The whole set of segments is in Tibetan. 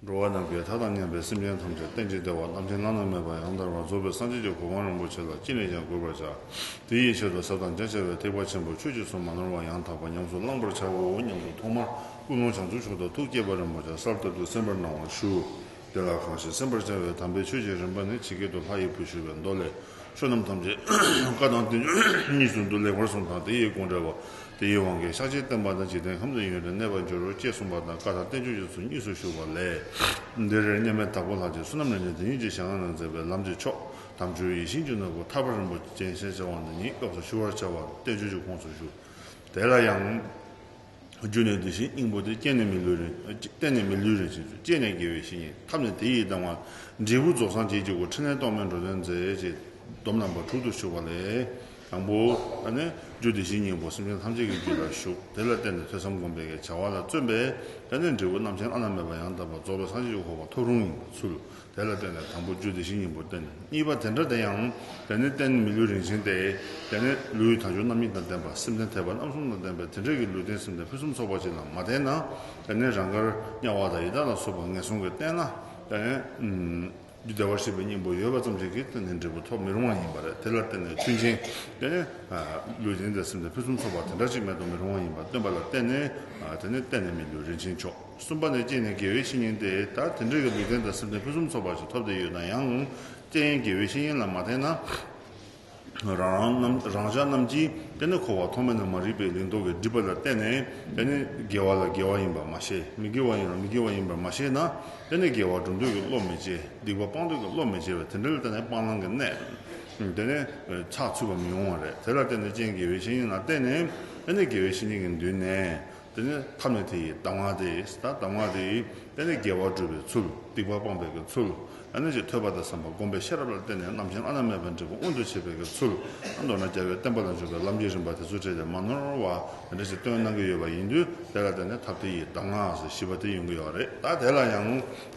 འགྲོ་བ་རྣམས་ཀྱི་མཐའ་དང་མཉམ་པའི་སེམས་ཅན་ཐམས་ཅད་རྟེན་ཅིང་འབྲེལ་བར་རྣམ་མཁྱེན་བླ་ན་མེད་པ་ཡང་དག་པར་རྫོགས་པའི་སངས་རྒྱས་ཀྱི་གོ་འཕང་རིན་པོ་ཆེ་ལ་ཅི་ནས་ཀྱང་གུས་པར་བྱ། དེ་ཡི་ཆེད་དུ་ཟབ་དང་རྒྱ་ཆེ་བའི་ཐེག་པ་ཆེན་པོ་ཆོས་ཀྱི་སྲུང་མ་ནོར་བ་ཡང་དག་པར་ཉམས་སུ་བླང་བར་བྱའོ་སྙམ་དུ་ཐོག་མར་ཀུན་སློང་བྱང་ཆུབ་ཕྱོགས་དང་ཐུགས་བསྐྱེད་པ་རིན་པོ་ཆེ་གསར་གཏོད་དུ་གསན་པར་གནང་བར་ཞུ། དེ་ལ་གང་ཞིག་སེམས་པར་བྱ་བའི་དམ་པའི་ཆོས་ཀྱི་རིམ་པ་ནི་ཇི་སྐད་དུ་ལྷ་ཡི་བུ་ཞུ་བའི་མདོ་ལས། ཆོས་རྣམས་ཐམས་ཅད་བཀའ་དང་བསྟན་བཅོས་གཉིས་སུ་འདུ་ལེགས་པར་གསུངས་དང་དེ་ཡི་དགོངས་འགྲེལ་བ། དེ་ཡི་དབང་གིས་ཤཱཀྱའི་བསྟན་པ་དང་འཇིག་རྟེན་ཁམས་ཀྱི་ཡོན་ཏན་གནས་པར་འགྱུར་རོ་ཅེས་གསུངས་པ་དང་བཀའ་དང་བསྟན་བཅོས་ཀྱི་ཚུལ་གཉིས་སུ་བཞུགས་པ་ལས། འདིར་རེ་སྙེ་མའི་དྭགས་པོ་ལྷ་ཅིག་བསོད་ནམས་ལས་ནི་དེ་ཉིད་ཀྱི་ཞལ་སྔ་ན་མཛད་པའི་ལམ་གྱི་མཆོག་དམ་ཆོས་ཡིད་བཞིན་གྱི་ནོར་བུ་ཐར་པ་རིན་པོ་ཆེན་ཞེས་བྱ་བ་འདི་ཉིད་སྐབས་སུ་ཞུ་བར་བྱ་བ་བསྟན་བཅོས་ཀྱི་ཁོངས་སུ་བཞུགས། དེ་ལ་ཡང། རྒྱུད་ནས་དེ་བཞིན་སྙིང་པོ་དེ་སྐྱེས་ནས་མི་ལུས་རིང། བརྟན་ནས་མི་ལུས་རིང་བྱེད་ཚུལ་སྐྱེས་ནས་དགེ་བའི་བཤེས་གཉེན་ཐབས་ནི་དེ་ཡིས་ལྡང་བ། འབྲས་བུ་རྫོགས་སངས་རྒྱས་ཀྱི་སྒོ་ཕྲིན་ལས་རྟོག་མེད་འགྲོ་དོན་མཛད། ཅེས་སྡོམ་རྣམ་པ་དྲུག་ཏུ་བཞུགས་པ་ལས། དང་པོ། ཨ་ནི། རྒྱུད་དེ་བཞིན་སྙིང་པོ་སེམས་ཅན་ཐམས་ཅད་ཀྱི་རྒྱུད་ལ་བཞུགས། དེ་ལ་བརྟེན་ནས་ཐོས་བསམ་སྒོམ་པའི་བྱ་བ་ལ་བརྩོན་པས། ད་ནི་འབྲས་བུ་རྣམ་མཁྱེན་བླ་ན་མེད་པ་ཡང་དག་པར་རྫོགས་པའི་སངས་རྒྱས་ཀྱི་འཁོར་བ་ཐོབ་རུང་ཚུལ། དེ་ལ་བརྟེན་ནས་དང་པོ་རྒྱུ་དེ་བཞིན་ཉིད་པོ་སྟེ། གཉིས་པ་དེ་འདྲ་དེ་ཡང། དེ་ནི་རྟེན་མི་ལུས་རིན་ཆེན་ཏེ། དེ་ནི་ལུས་དང་ཆོས་རྣམ་གཉིས་དང་ལྡན་པ་སེམས་ལྡན་ཐེག་པ་རྣམ་གསུམ་དང་ལྡན་པའི་དེ་འདྲས་ཀྱི་ལུས་རྟེན་སེམས་ལྡན་ཕུན་སུམ་ཚོགས་པ་ཅིག་ལ་མ་བརྟེན་ན། དེ་ནི་རང་དགར་དམྱལ་བ་དང་ཡི་དྭགས་ལ་སོགས་པ་ངན་སོང་གིས་བསྟེན་ན། དེ་ནི། རྒྱུ་བདེ་བར་གཤེགས་པའི་སྙིང་པོ་ཡོད་པ་ཙམ་ཞིག་གིས་དེ་ནི་འབྲས་བུ་ཐོབ་མི་རུང་བ་ཡིན་པ་རེད་དེ་ལ་བརྟེན་ནས་མཐུན་རྐྱེན་དེ་ནི། ལུས་རྟེན་ཏེ་སེམས་ལྡན་ཕུན་སུམ་ཚོགས་པ་དེ་འདྲ་ཅིག་མེད་དུ་མི་རུང་བ་ཡིན་པར་སྟོན་པ་ལ་བརྟེན་ནས། དེ་ནི་རྟེན་ནི་མི་ལུས་རིན་ཆེན་མཆོག། གསུམ་པ་ནི་གཅིག་ནི་དགེ་བའི་བཤེས་གཉེན་ཏེ་ད་དེ་འདྲའི་གི་འཇིག་རྟེན་དང་སེམས་ཅན་ཕུན་སུམ་ཚོགས་པ་ཞིག་ཐོབ་བསྡད་ཡོད་ན་ཡང་རྐྱེན་ཡིན་དགེ་བའི་བཤེས་གཉེན་ལ་མ་བརྟེན་ན་རང་ཅག་རྣམས་ཀྱིས་དཔེ་ནི་འཁོར་བ་ཐོག་མེད་ན་མ་རིག་པའི་ལིང་ཏོག་གི་སྒྲིབ་པ་ལ་བརྟེན་ནས་དཔེ་ནི་དགེ་བ་ལ་དགེ་བ་ཡིན་པར་མ་ཤེས་མི་དགེ་བ་ཡིན་ལ་མི་དགེ་བ་ཡིན་པར་མ་ཤེས་ན་དཔེ་ནི་དགེ་བ་སྒྲུབ་འདོད་ཀྱི་བློ་མི་སྐྱེ་སྡིག་པ་སྤང་འདོད་ཀྱི་བློ་མི་སྐྱེ་བས་དེ་འདྲ་ལ་བརྟེན་ནས་སྤང་བླང་གི་གནད་དེ་ནི་ཚགས་ཚུད་པ་མི་ཡོང་བ་རེད་དེ་ལ་བརྟེན་ནས་རྐྱེན་དགེ་བའི་བཤེས་གཉེན་ལ་བརྟེན་ནས་དཔེ་ནི་དགེ་བའི་བཤེས་གཉེན་གྱི་མདུན་ནས་དེ་ནས་ཐབས་ནི་དེ་ཡི་གདམས་ངག་སྟེ། གདམས་ངག་དེ་ཡིས་དཔལ་ནི་རྒྱལ་བ་སྤྲུལ་པའི་ཚུལ། སྡིག་པ་སྤངས་པའི་གི་ཚུལ། ནད་ཀྱི་ཐོད་པ་དང་བསམ་པ་བསྒོམ་པའི་ཤེས་རབ་ལ་བརྟེན་ནས་རྣམ་མཁྱེན་ཨ་ན་མེད་པ་འབྲས་བུ་མངོན་དུ་བྱེད་པའི་གི་ཚུལ། མདོར་ན་རྒྱལ་བའི་བསྟན་པ་ལ་འཇུག་པའི་ལམ་གྱི་རིམ་པ་དེ་ཚུལ་བྲལ་ཏེ་མ་ནོར་བ་འདྲ་ཞིག་སྟོན་གནང་གི་ཡོད་པ་ཡིན་དུས་དེ་ལ་བརྟེན་ནས་ཐབས་དེ་ཡི་གདམས་ངག་ཟེར་བཞི་པ་དེ་ཡོང་གི་ཡོད་རེད་ད་དེ་ལ་ཡང་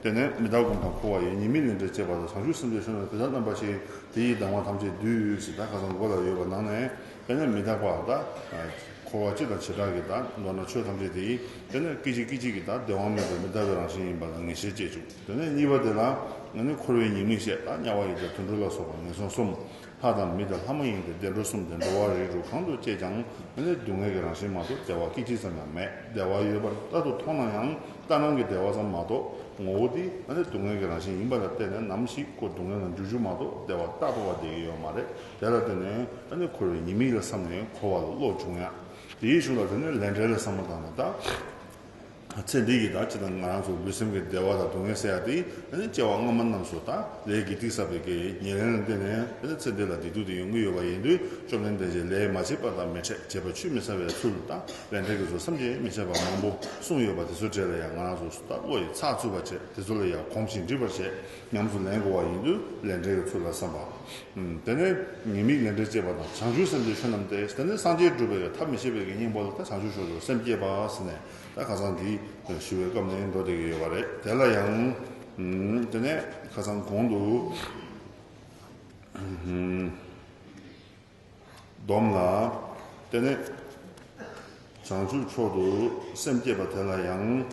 བརྟེན་ནས་མི་དག་གུམ་དང་འཁོར་བ་ཡི་ཉེས་དམིགས་ལས་འབྲས་བཅས་པ་དང་བྱང་ཆུབ་སེམས་དཔའི་གཞུང་ལ་དེ་ལྟར་རྣམ་པ་ཞིག་དེ་ཡི་གདམས་ངག་ཐམས་ཅད་བསྡུས་ཡོད་ཅེས་ད་ག་ཚང་མགོ་ལ་ཡོད་པ་ནང་ནས་དཔེར་ན་མི་རྟག་པ་དང། འཁོར་བ་སྤྱི་དང་བྱེ་བྲག་གི་དང། མདོར་ན་ཆོས་ཐམས་ཅད་དེ་ཡིན། དེ་ནི་སྐད་ཅིག་སྐད་ཅིག་གི་དང་བདེ་དབང་མེད་པའི་མི་རྟག་པའི་རང་བཞིན་ཡིན་པ་ལ་ངེས་ཤེས་སྐྱེས་བྱུང། དེ་ནས་གཉིས་པ་དེ་ལའང་ང་ནི་འཁོར་བའི་ཉེས་དམིགས་ཤེས་དང་དམྱལ་བ་ཡི་དང་དུད་འགྲོ་ལ་སོགས་པ་ངན་སོང་གསུམ། ལྷ་དང་མི་དང་ལྷ་མ་ཡིན་ཏེ་བདེ་འགྲོ་གསུམ་སྟེ་འགྲོ་བ་རིགས་དྲུག་གང་དུ་སྐྱེས་ཀྱང་ང་ནི་སྡུག་བསྔལ་གྱི་རང་བཞིན་མ་གཏོགས་བདེ་བ་སྐད་ཅིག་ཙམ་ཡང་མེད། བདེ་བ་ཡོད་པར་རྟག་ཏུ་མཐོང་ན་ཡང་ལྟ་སྣང་གི་བདེ་བ་ཙམ་མ་གཏོགས་ངོ་བོ་དེ་ང་ནི་སྡུག་བསྔལ་གྱི་རང་བཞིན་ཡིན་པ་ལ་བརྟེན་ནས་ནམ་ཞིག་ཀོ་སྡུག་བསྔལ་ལ་འཇུག་འཇུག་མ་གཏོགས་བདེ་བ་རྟག་ཏུ་བ་དེ་ཡོད་མ་རེད། དེ་ལ་བརྟེན་ནས་ད་ནི་འཁོར་བའི་ཉེས་དམིགས་ལ་བསམ་ནས་འཁོར་བ་ལ་བློ་འབྱུང་ཡང། དེའི་གཞུང་ལ་བརྟེན་ནས་ལས་འབྲས་ལ་བསམ་པ་དང། ཚེ་འདི་ཡི་དག་བྱེད་དང་ང་རང་ཚོ་ལུས་སེམས་ཀྱི་བདེ་བ་དང་སྡུག་བསྔལ་སེལ་ཡག་དེ་སྐྱེ་བ་སྔ་མ་རྣམས་སུ་དང་ལས་ཀྱི་ཏིག་བསགས་པའི་དགེ་བའི་ཉེར་ལེན་ལ་བརྟེན་ནས་ཚེ་འདི་ལ་བདེ་སྡུག་དེ་ཡོང་གི་ཡོད་པ་ཡིན་དུས་བཅོམ་ལྡན་འདས་ཀྱིས་ལས་མ་བྱས་པ་དང་མི་འཕྲད་བྱས་པ་ཆུད་མི་ཟ་བའི་ཚུལ་དང་ལས་འབྲས་ཀྱི་ཚུལ་བསམ་གྱིས་མི་ཁྱབ་པ་མང་པོ་གསུངས་ཡོད་པ་དེ་ཚོའི་གྲས་ལ་ཡང་ང་རང་ཚོ་བློ་ཡིས་ཚགས་ཚུད་པར་བྱས་དེ་ཚོ་ལ་ཡང་གོམས་ཤིང་འདྲིས་པར་བྱས། ཉམས་སུ་ལེན་དགོས་པ་ཡིན་དུས་ལས་འབྲས་ཀྱི་ཚུལ་ལ་བསམ་པ། དེ་ནས་ཉེས་དམིགས་ལས་འབྲས་བཅས་པ་དང་བྱང་ཆུབ་སེམས་དེའི་ཆོས་རྣམས་ཏེ་དེ་ནི་སངས་རྒྱས་སྒྲུབ་པའི་ཐབས་མི་ཤེས་པའི་དགེ་སྙིང་པོ་ལ་ད་བྱང་ཆུབ་ཕྱོགས་སུ་སེམས་བསྐྱེད་པ་ཟེར་ནས་ད་ཁ་སང་འདི་ཞུ་བའི་སྐབས་ནས་འགྲོ་བསྡད་ཀྱི་ཡོད་པ་རེད་དེ་ལ་ཡང། དེ་ནས་ཁ་སང་གོང་དུ། སྡོམ་ལ། དེ་ནས་བྱང་ཆུབ་ཕྱོགས་སུ་སེམས་བསྐྱེད་པ་དེ་ལ་ཡང།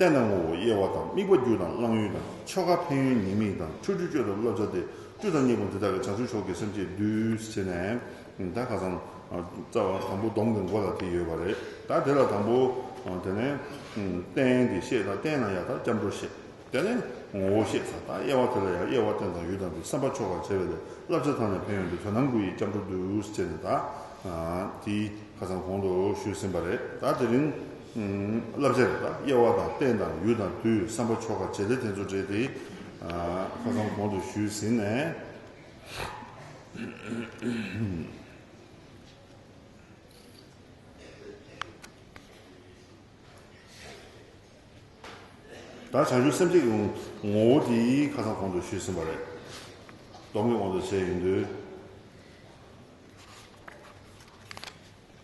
རྟེན་དང་ངོ་བོ་དབྱེ་བ་དང་དམིགས་པ་རྒྱུ་དང་བླང་ཡུལ་དང་ཆོ་ག་ཕན་ཡོན་ཉེས་དམིགས་དང་འཁྲུལ་སྤྲུལ་སྤྱོད་དང་བསླབ་བྱ་སྟེ་བཅུ་དང་གཉིས་པོ་འདི་དག་གི་བྱང་ཆུབ་མཆོག་གི་སེམས་བསྐྱེད་བསྡུས་བྱས་ནས་ད་ག་ཙང་རྩ་བ་དང་པོ་སྡོམ་གྱི་མགོ་ལ་དེ་ཡོད་པ་རེད་ད་དེ་ལ་དང་པོ་དེ་ནས་རྟེན་དེ་བཤད་ད་རྟེན་ན་ཡང་དག་སྐྱབས་འགྲོ་བཤད་དེ་ནས་ངོ་བོ་བཤད་ད་དབྱེ་བ་དེ་ལ་ཡང་དབྱེ་བ་རྟེན་དང་ཡུལ་དང་དེ་བསམ་པ་ཆོ་གར་བྱས་པའི་ལས་བསླབ་བྱ་དང་ནས་ཕན་ཡོན་དེ་དོན་དམ་དགུ་ཡིས་སྐྱབས་འགྲོ་བསྡུས་བྱས་ནས་ད་དེ་ག་ཙང་གོང་དུ་ཞུས་ཟིན་པ་རེད་ད་དེ་རིང། བསླབ་བྱ་རེ་དང་དབྱེ་བ་དང་རྟེན་དང་ཡུལ་དང་དུས་བསམ་པ་ཆོ་ག་བྱེད་ལས་དེ་ཚོ་འབྲེལ་ཏེ་ཁ་སང་གོང་དུ་ཞུས་ཟིན་ནས། ད་བྱང་ཆུབ་སེམས་བསྐྱེད་ཀྱི་ངོ་བོ་དེ་ཁ་སང་གོང་དུ་ཞུས་ཟིན་པ་རེད། སྡོམ་གྱི་དབང་དུ་བྱས་ཡིན་དུས།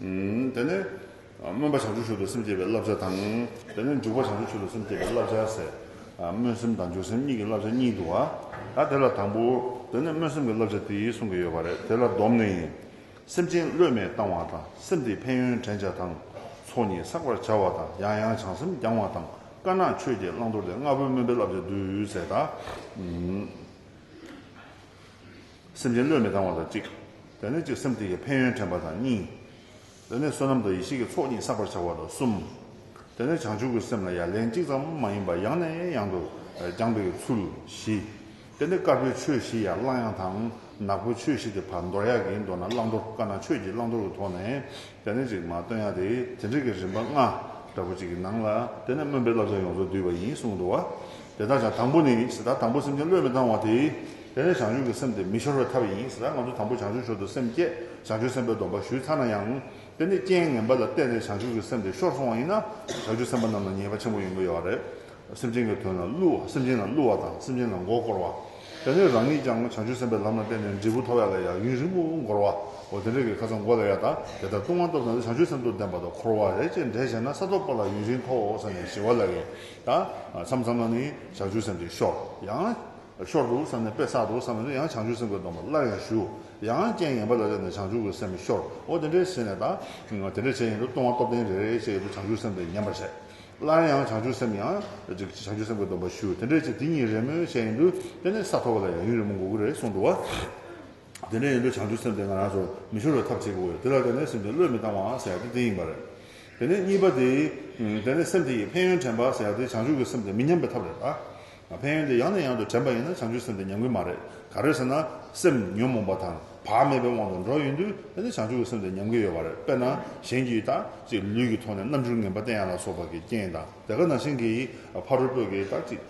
དེ་ནས་སྨོན་པ་བྱང་ཆུབ་ཆོས་དང་སེམས་བསྐྱེད་པའི་བསླབ་བྱ་དང། དེ་ནས་འཇུག་པ་བྱང་ཆུབ་ཆོས་དང་སེམས་བསྐྱེད་པའི་བསླབ་བྱ་ཟེར། སྨོན་སེམས་དང་འཇུག་སེམས་གཉིས་ཀྱི་བསླབ་བྱ་གཉིས་འདུ་བ། ད་དེ་ལ་དང་པོ། དེ་ནས་སྨོན་སེམས་ཀྱི་བསླབ་བྱ་དེ་ཡིས་གསུང་གི་ཡོད་པ་རེད་དེ་ལ་སྡོམ་ནི། སེམས་ཅན་བློས་མེད་བཏང་བ་དང་སེམས་དེའི་ཕན་ཡོན་དྲན་བྱ་དང། ཚོགས་གཉིས་བསགས་པར་བྱ་བ་དང་ཡང་ཡང་བྱང་སེམས་སྦྱང་བ་དང་དཀར་ནག་ཆོས་བརྒྱད་བླང་དོར་ཏེ་ལྔ་པོའི་སྨོན་པའི་བསླབ་བྱ་འདུས་ཟེར་དང། སེམས་ཅན་བློས་མི་བཏང་བ་དང་གཅིག། དེ་ནས་ཅིག་སེམས་དེ་ཡི་ཕན་ཡོན་དྲན་པ་དང་གཉིས། དེ་ནས་བསོད་ནམས་དང་ཡེ་ཤེས་ཀྱི་ཚོགས་གཉིས་བསགས་པར་བྱ་བ་དང་གསུམ། དེ་ནས་བྱང་ཆུབ་ཀྱི་སེམས་ལ་ཡང་ལན་གཅིག་ཙམ་མ་ཡིན་པར་ཡང་ནས་ཡང་དུ་སྦྱངས་པའི་ཚུལ་བཞི། དེ་ནས་དཀར་པོའི་ཆོས་བཞི་ཡང་གླང་ཡང་དང་ནག་པོའི་ཆོས་བཞི་སྟེ་བར་མདོར་ཡག་གིས་མདོར་ན་བླང་དོར་དཀར་ནག་ཆོས་ཀྱི་བླང་དོར་གྱི་ཐོག་ནས། རྒྱ་ནི་གཅིག་མ་བཏོན་ཡང་དེ་དེ་འབྲེལ་གྱི་རིམ་པ་ལྔ་འདྲ་པོ་གཅིག་གི་ནང་ལ་དེ་ནས་སྨོན་པའི་བསླབ་བྱ་ཡོངས་རྫོགས་བསྡུས་པ་ཡིན་གསུངས་འདུག་བ། དེ་དག་ཀྱང་དང་པོ་ནི་ཟེ་ད་དང་པོ་སེམས་ཅན་བློས་མི་བཏང་བ་དེ། དེ་ནས་བྱང་ཆུབ་ཀྱི་སེམས་དེ་མི་ཤོར་བའི་ཐབས་ཡིན་ཟེ་ད་ང་ཚོ་དང་པོ་བྱང་ཆུབ་ཤོར་དུ་སེམས་བསྐྱེད་བྱང་ཆུབ་སེམས་དཔའི་སྡོམ་པ་ཞུས་ཚར་ན་ཡང། དེ་ནས་རྐྱེན་ངན་པ་ལ་བརྟེན་ནས་བྱང་ཆུབ་ཀྱི་སེམས་དེ་ཤོར་སོང་བ་ཡིན་ན་བྱང་ཆུབ་སེམས་དཔའ་རྣམས་ལ་ཉེས་པ་ཆེན་པོ་ཡོང་གི་ཡོད་པ་རེད། སེམས་ཅན་གྱི་དོན་ལ་བསླུ་བ་སེམས་ཅན་ལ་བསླུ་བ་དང་སེམས་ཅན་ལ་མགོ་བསྐོར་བ། དེ་ནས་རང་ཉིད་ཀྱང་བྱང་ཆུབ་སེམས་དཔའི་ལམ་ལ་བརྟེན་ནས་འབྲས་བུ་ཐོབ་ཡ་ལ་ཡང་ཡུན་རིང་པོ་འགོར་བའོ། དེ་འདྲ་གི་ཁ་ཚ་མགོ་ལ་ཡ་དག་དེ་ལྟར་ལྟུང་བ་སྟོབས་དང་བྱང་ཆུབ་སེམས་སྟོབས་ལྡན་པ་དང་འཁོར་བ་རེ་བཅད་འདྲེས་བྱས་ན་ས་ཐོབ་པ་ལ་ཡུན་རིང་ཐོག་ས་ནས་ཞི་བ་ལ་ཡོད་ད། མཚམས་མཚམས་ལ་ནི་བྱང་ཆུབ་སེམས་དེ་ཤོར་ཡང། ཤོར་འདུག་བསམ་ནས་དཔེ་བསགས་འདུག་བསམ་ནས་ཡང་བྱང་ཆུབ་སེམས་ཀྱི་སྡོམ་པ་སླར་ཡང་ཞུ། ཡང་རྐྱེན་ངན་པ་ལ་བརྟེན་ནས་བྱང་ཆུབ་ཀྱི་སེམས་ཤོར་འོ་དེ་འདྲས་བྱས་ནས་ད། དེ་འདྲས་བྱས་ཡིན་འདུག་ལྟུང་བ་སྟོབས་ལྡན་རེ་རེ་བཅད་ཡོད་འདུག་བྱང་ཆུབ་སེམས་དེ་ཉམས་པར་བྱས། སླར་ཡང་བྱང་ཆུབ་སེམས་ཡང་བྱང་ཆུབ་སེམས་ཀྱི་སྡོམ་པ་ཞུ་དེ་འདྲའི་ཚེ་དེ་ཉིད་རེས་མོས་བྱས་ཡིན་དུ་དེ་ནས་ས་ཐོབ་པ་ལ་ཡང་ཡུན་རིང་མོ་འགོར་གྱི་རེད་གསུངས་འདུག་བ། དེ་འདྲ་ཡིན་དུ་བྱང་ཆུབ་སེམས་དེ་ང་རང་ཚོར་མི་ཤོར་བའི་ཐབས་བྱེད་དགོས་གི་རེད་དེ་ལ་དེ་ནས་སེམས་དེ་བློས་མི་བཏང་བའང་ཟེར་ཡག་དེ་དེ་ཡིན་པ་རེད། དེ་ནས་གཉིས་པ་དེ། དེ་ནས་སེམས་དེ་ཡི་ཕན་ཡོན་དྲན་པ་ཟེར་ཡག་དེ་བྱང་ཆུབ་ཀྱི་སེམས་དེ་མི་ཉམས་པའི་ཐབས་རེད་ལ། ཕན་ཡོན་དེ་ཡང་ནས་ཡང་དུ་དྲན་པ་ཡིན་ན་བྱང་ཆུབ་སེམས་དེ་ཉམས་ཀྱི་མ་རེད། ག་རེད་ཟེར་ན། སེམས་ཉོན་མོངས་པ་དང་བག་མེད་པའི་དབང་དུ་འགྲོ་ཡོད་དུས་དེ་ནི་བྱང་ཆུབ་ཀྱི་སེམས་དེ་ཉམས་ཀྱི་ཡོད་པ་རེད། དཔེར་ན། གཞན་གྱིས་ད་ཅིག་ལུས་ཀྱི་ཐོག་ནས་རྣམ་འགྱུར་ངན་པ་བསྟན་ཡ་ལ་སོགས་པ་ཀྱི་རྐྱེན་དང་དེ་ག་ན་གཞན་གྱིས་ཕ་རོལ་པོས་ཀྱིས་ད་ཅིག་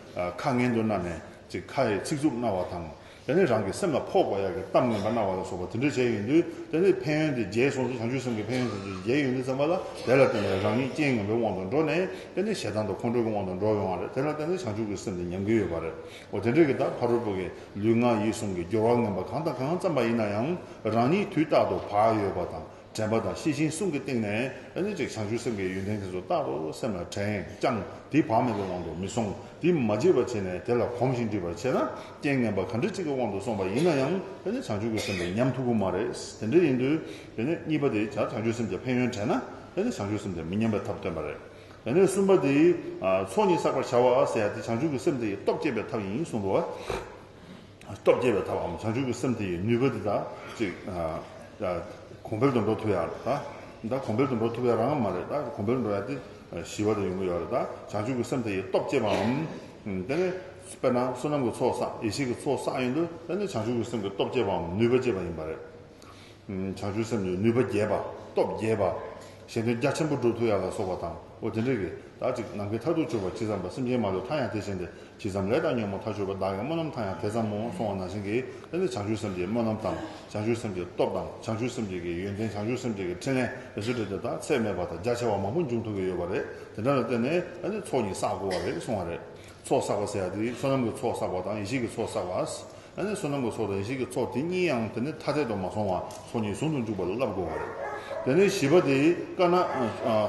ཁ་ངན་དུ་གནའ་ནས་ཅིག་ཁ་ཡི་ཚིག་རྩུབ་རྣ་བ་དང། དེ་ནས་རང་གི་སེམས་ལ་ཕོག་པ་ཡག་གི་གཏམ་ངན་པ་སྣང་བ་ལ་སོགས་པ་དེ་འདྲ་བྱས་ཡོང་དུས་དེ་ནི་ཕན་ཡོན་དེ་རྒྱལ་སོང་ཚེ་བྱང་ཆུབ་སེམས་ཀྱི་ཕན་ཡོན་དེ་ཚོ་རྒྱལ་ཡོང་དུས་བསམ་པ་ལ་དེ་ལ་བརྟེན་ནས་རང་ཉིད་རྐྱེན་ངན་པའི་དབང་དུ་འགྲོ་ནས་དེ་ནི་ཞེ་སྡང་དང་ཁོང་ཁྲོ་གི་དབང་དུ་འགྲོ་ཡོང་བ་རེད་དེ་ལ་བརྟེན་ནས་བྱང་ཆུབ་ཀྱི་སེམས་དེ་ཉམས་ཀྱི་ཡོད་པ་རེད་འོ་དེ་འདྲའི་གི་ད་ཕ་རོལ་པོ་གིས་ལུས་ངག་ཡིད་གསུམ་གྱི་སྦྱོར་བ་ངན་པ་གང་དང་གང་བརྩམས་པ་ཡིན་ན་ཡང་རང་ཉིད་དུས་རྟག་ཏུ་བག་ཡོད་པ་དང་དྲན་པ་དང་ཤེས་བཞིན་གསུམ་གྱི་སྟེང་ནས་ཨེ་ནི་ཅིག་བྱང་ཆུབ་སེམས་དགའི་ཡོན་ཏན་དེ་ཚོ་རྟག་ཏུ་སེམས་ལ་དྲན་ཀྱང་དེ་བག་མེད་པའི་དབང་དུ་མི་སོང་དེ་མ་བརྗེད་པར་བྱས་ནས་དེ་ལ་གོམས་ཤིང་འདྲིས་པར་བྱས་ན་རྐྱེན་ངན་པ་ག་འདྲ་ཅིག་གི་དབང་དུ་སོང་པ་ཡིན་ན་ཡང་ཨེ་ནི་བྱང་ཆུབ་ཀྱི་སེམས་དེ་ཉམས་ཐུག་གི་མ་རེད་དེ་འདྲ་ཡིན་དུས་ཨེ་ནི་གཉིས་པ་དེ་བྱང་ཆུབ་སེམས་ཀྱི་ཕན་ཡོན་དྲན་ན་ཨེ་ནི་བྱང་ཆུབ་སེམས་དེ་མི་ཉམས་པའི་ཐབས་སྟོན་པ་རེད་ཨེ་ནི་གསུམ་པ་དེ་ཚོགས་གཉིས་བསགས་པར་བྱ་བ་ཟེར་ཡ་དེ་བྱང་ཆུབ་ཀྱི་སེམས་དེ་སྟོབས་བསྐྱེད་པའི་ཐབས་ཡིན་གསུངས་པ། སྟོབས་རྒྱས་པའི་ཐབས་འམ་བྱང་ཆུབ་ཀྱི་སེམས་དེ་ཡི་ནུས་པ་འདི་དག་ཅིག། གོང་འཕེལ་དུ་འགྲོ་ཐུབ་ཡག་རེད་ད། གོང་འཕེལ་དུ་འགྲོ་ཐུབ་ཡག་རང་མ་རེད་ད། གོང་འཕེལ་འགྲོ་ཡག་དེ་ཞི་བ་དང་ཡོང་གི་ཡོག་རེད་ད། བྱང་ཆུབ་ཀྱི་སེམས་དེ་ཡི་སྟོབས་བསྐྱེད་པ་འམ། དེ་ནི། དཔེར་ན་བསོད་ནམས་ཀྱི་ཚོགས་བསགས་ཡེ་ཤེས་ཀྱི་ཚོགས་བསགས་ཡིན་དུས་དེ་ནི་བྱང་ཆུབ་ཀྱི་སེམས་ཀྱི་སྟོབས་བསྐྱེད་པའམ་ནུས་པ་བསྐྱེད་པ་ཡིན་པ་རེད། བྱང་ཆུབ་སེམས་ཀྱི་ནུས་པ་རྒྱས་པ། སྟོབས་རྒྱས་པ། གཞན་དོན་རྒྱ་ཆེན་པོ་སྒྲུབ་ཐུབ་ཡག་ལ་སོགས་པ་དང་པོ་དེ་འདྲའི་གེགས་དག་ཅིག་ནམ་མཁའི་མཐར་ཐུག་ཆོད་པར་ཇི་བསམ་པ་སེམས་ཅན་མ་ལུས་མཐའ་ཡང་དེ་བཞིན་ཏེ་ཇི་བསམ་ལས་དང་ཉོན་མོངས་མཐའ་ཆོད་པ་བདག་གི་སྨོན་ལམ་མཐའ་ཡང་དེ་ཙམ་མོ་སོང་བ་ན་བྱིན་གྱིས་བརླབས་ནས་བྱང་ཆུབ་སེམས་ཀྱི་སྨོན་ལམ་དང་བྱང་ཆུབ་སེམས་ཀྱི་སྟོབས་དང་བྱང་ཆུབ་སེམས་ཀྱི་གི་ཡོན་ཏན་བྱང་ཆུབ་སེམས་ཀྱི་གི་འཕྲིན་ལས་རེ་ཟུང་བྲིས་ཏེ་དག་ཚད་མེད་པ་དང་རྒྱ་ཆེ་བ་མང་པོ་འབྱུང་ཐུབ་ཀྱི་ཡོད་པ་རེད་དེ་འདྲ་ལ་བརྟེན་ནས་ནི་ཚོགས་གཉིས་བསགས་དགོས་བ་རེད་གསུང་བ་རེད་ཚོགས་བསགས་པ་ཟེར་བ་དེ་བསོད་ནམས་ཀྱི་ཚོགས་བསགས་པ་དང་ཡེ་ཤེས་ཀྱི་ཚོགས་བསགས་པ། བསོད་ནམས་ཀྱི་ཚོགས་དང་ཡེ་ཤེས་ཀྱི་ཚོགས་དེ་གཉིས་ཡང་དེ་ནས་ཐ་དད་དུ་མ་སོང་བར་ཚོགས་གཉིས་ཟུང་དུ་འཇུག་པ་ལ་བསླབ་དགོས་པ་རེད། དེ་ནས་བཞི་པ་དེ་དཀའ་ན།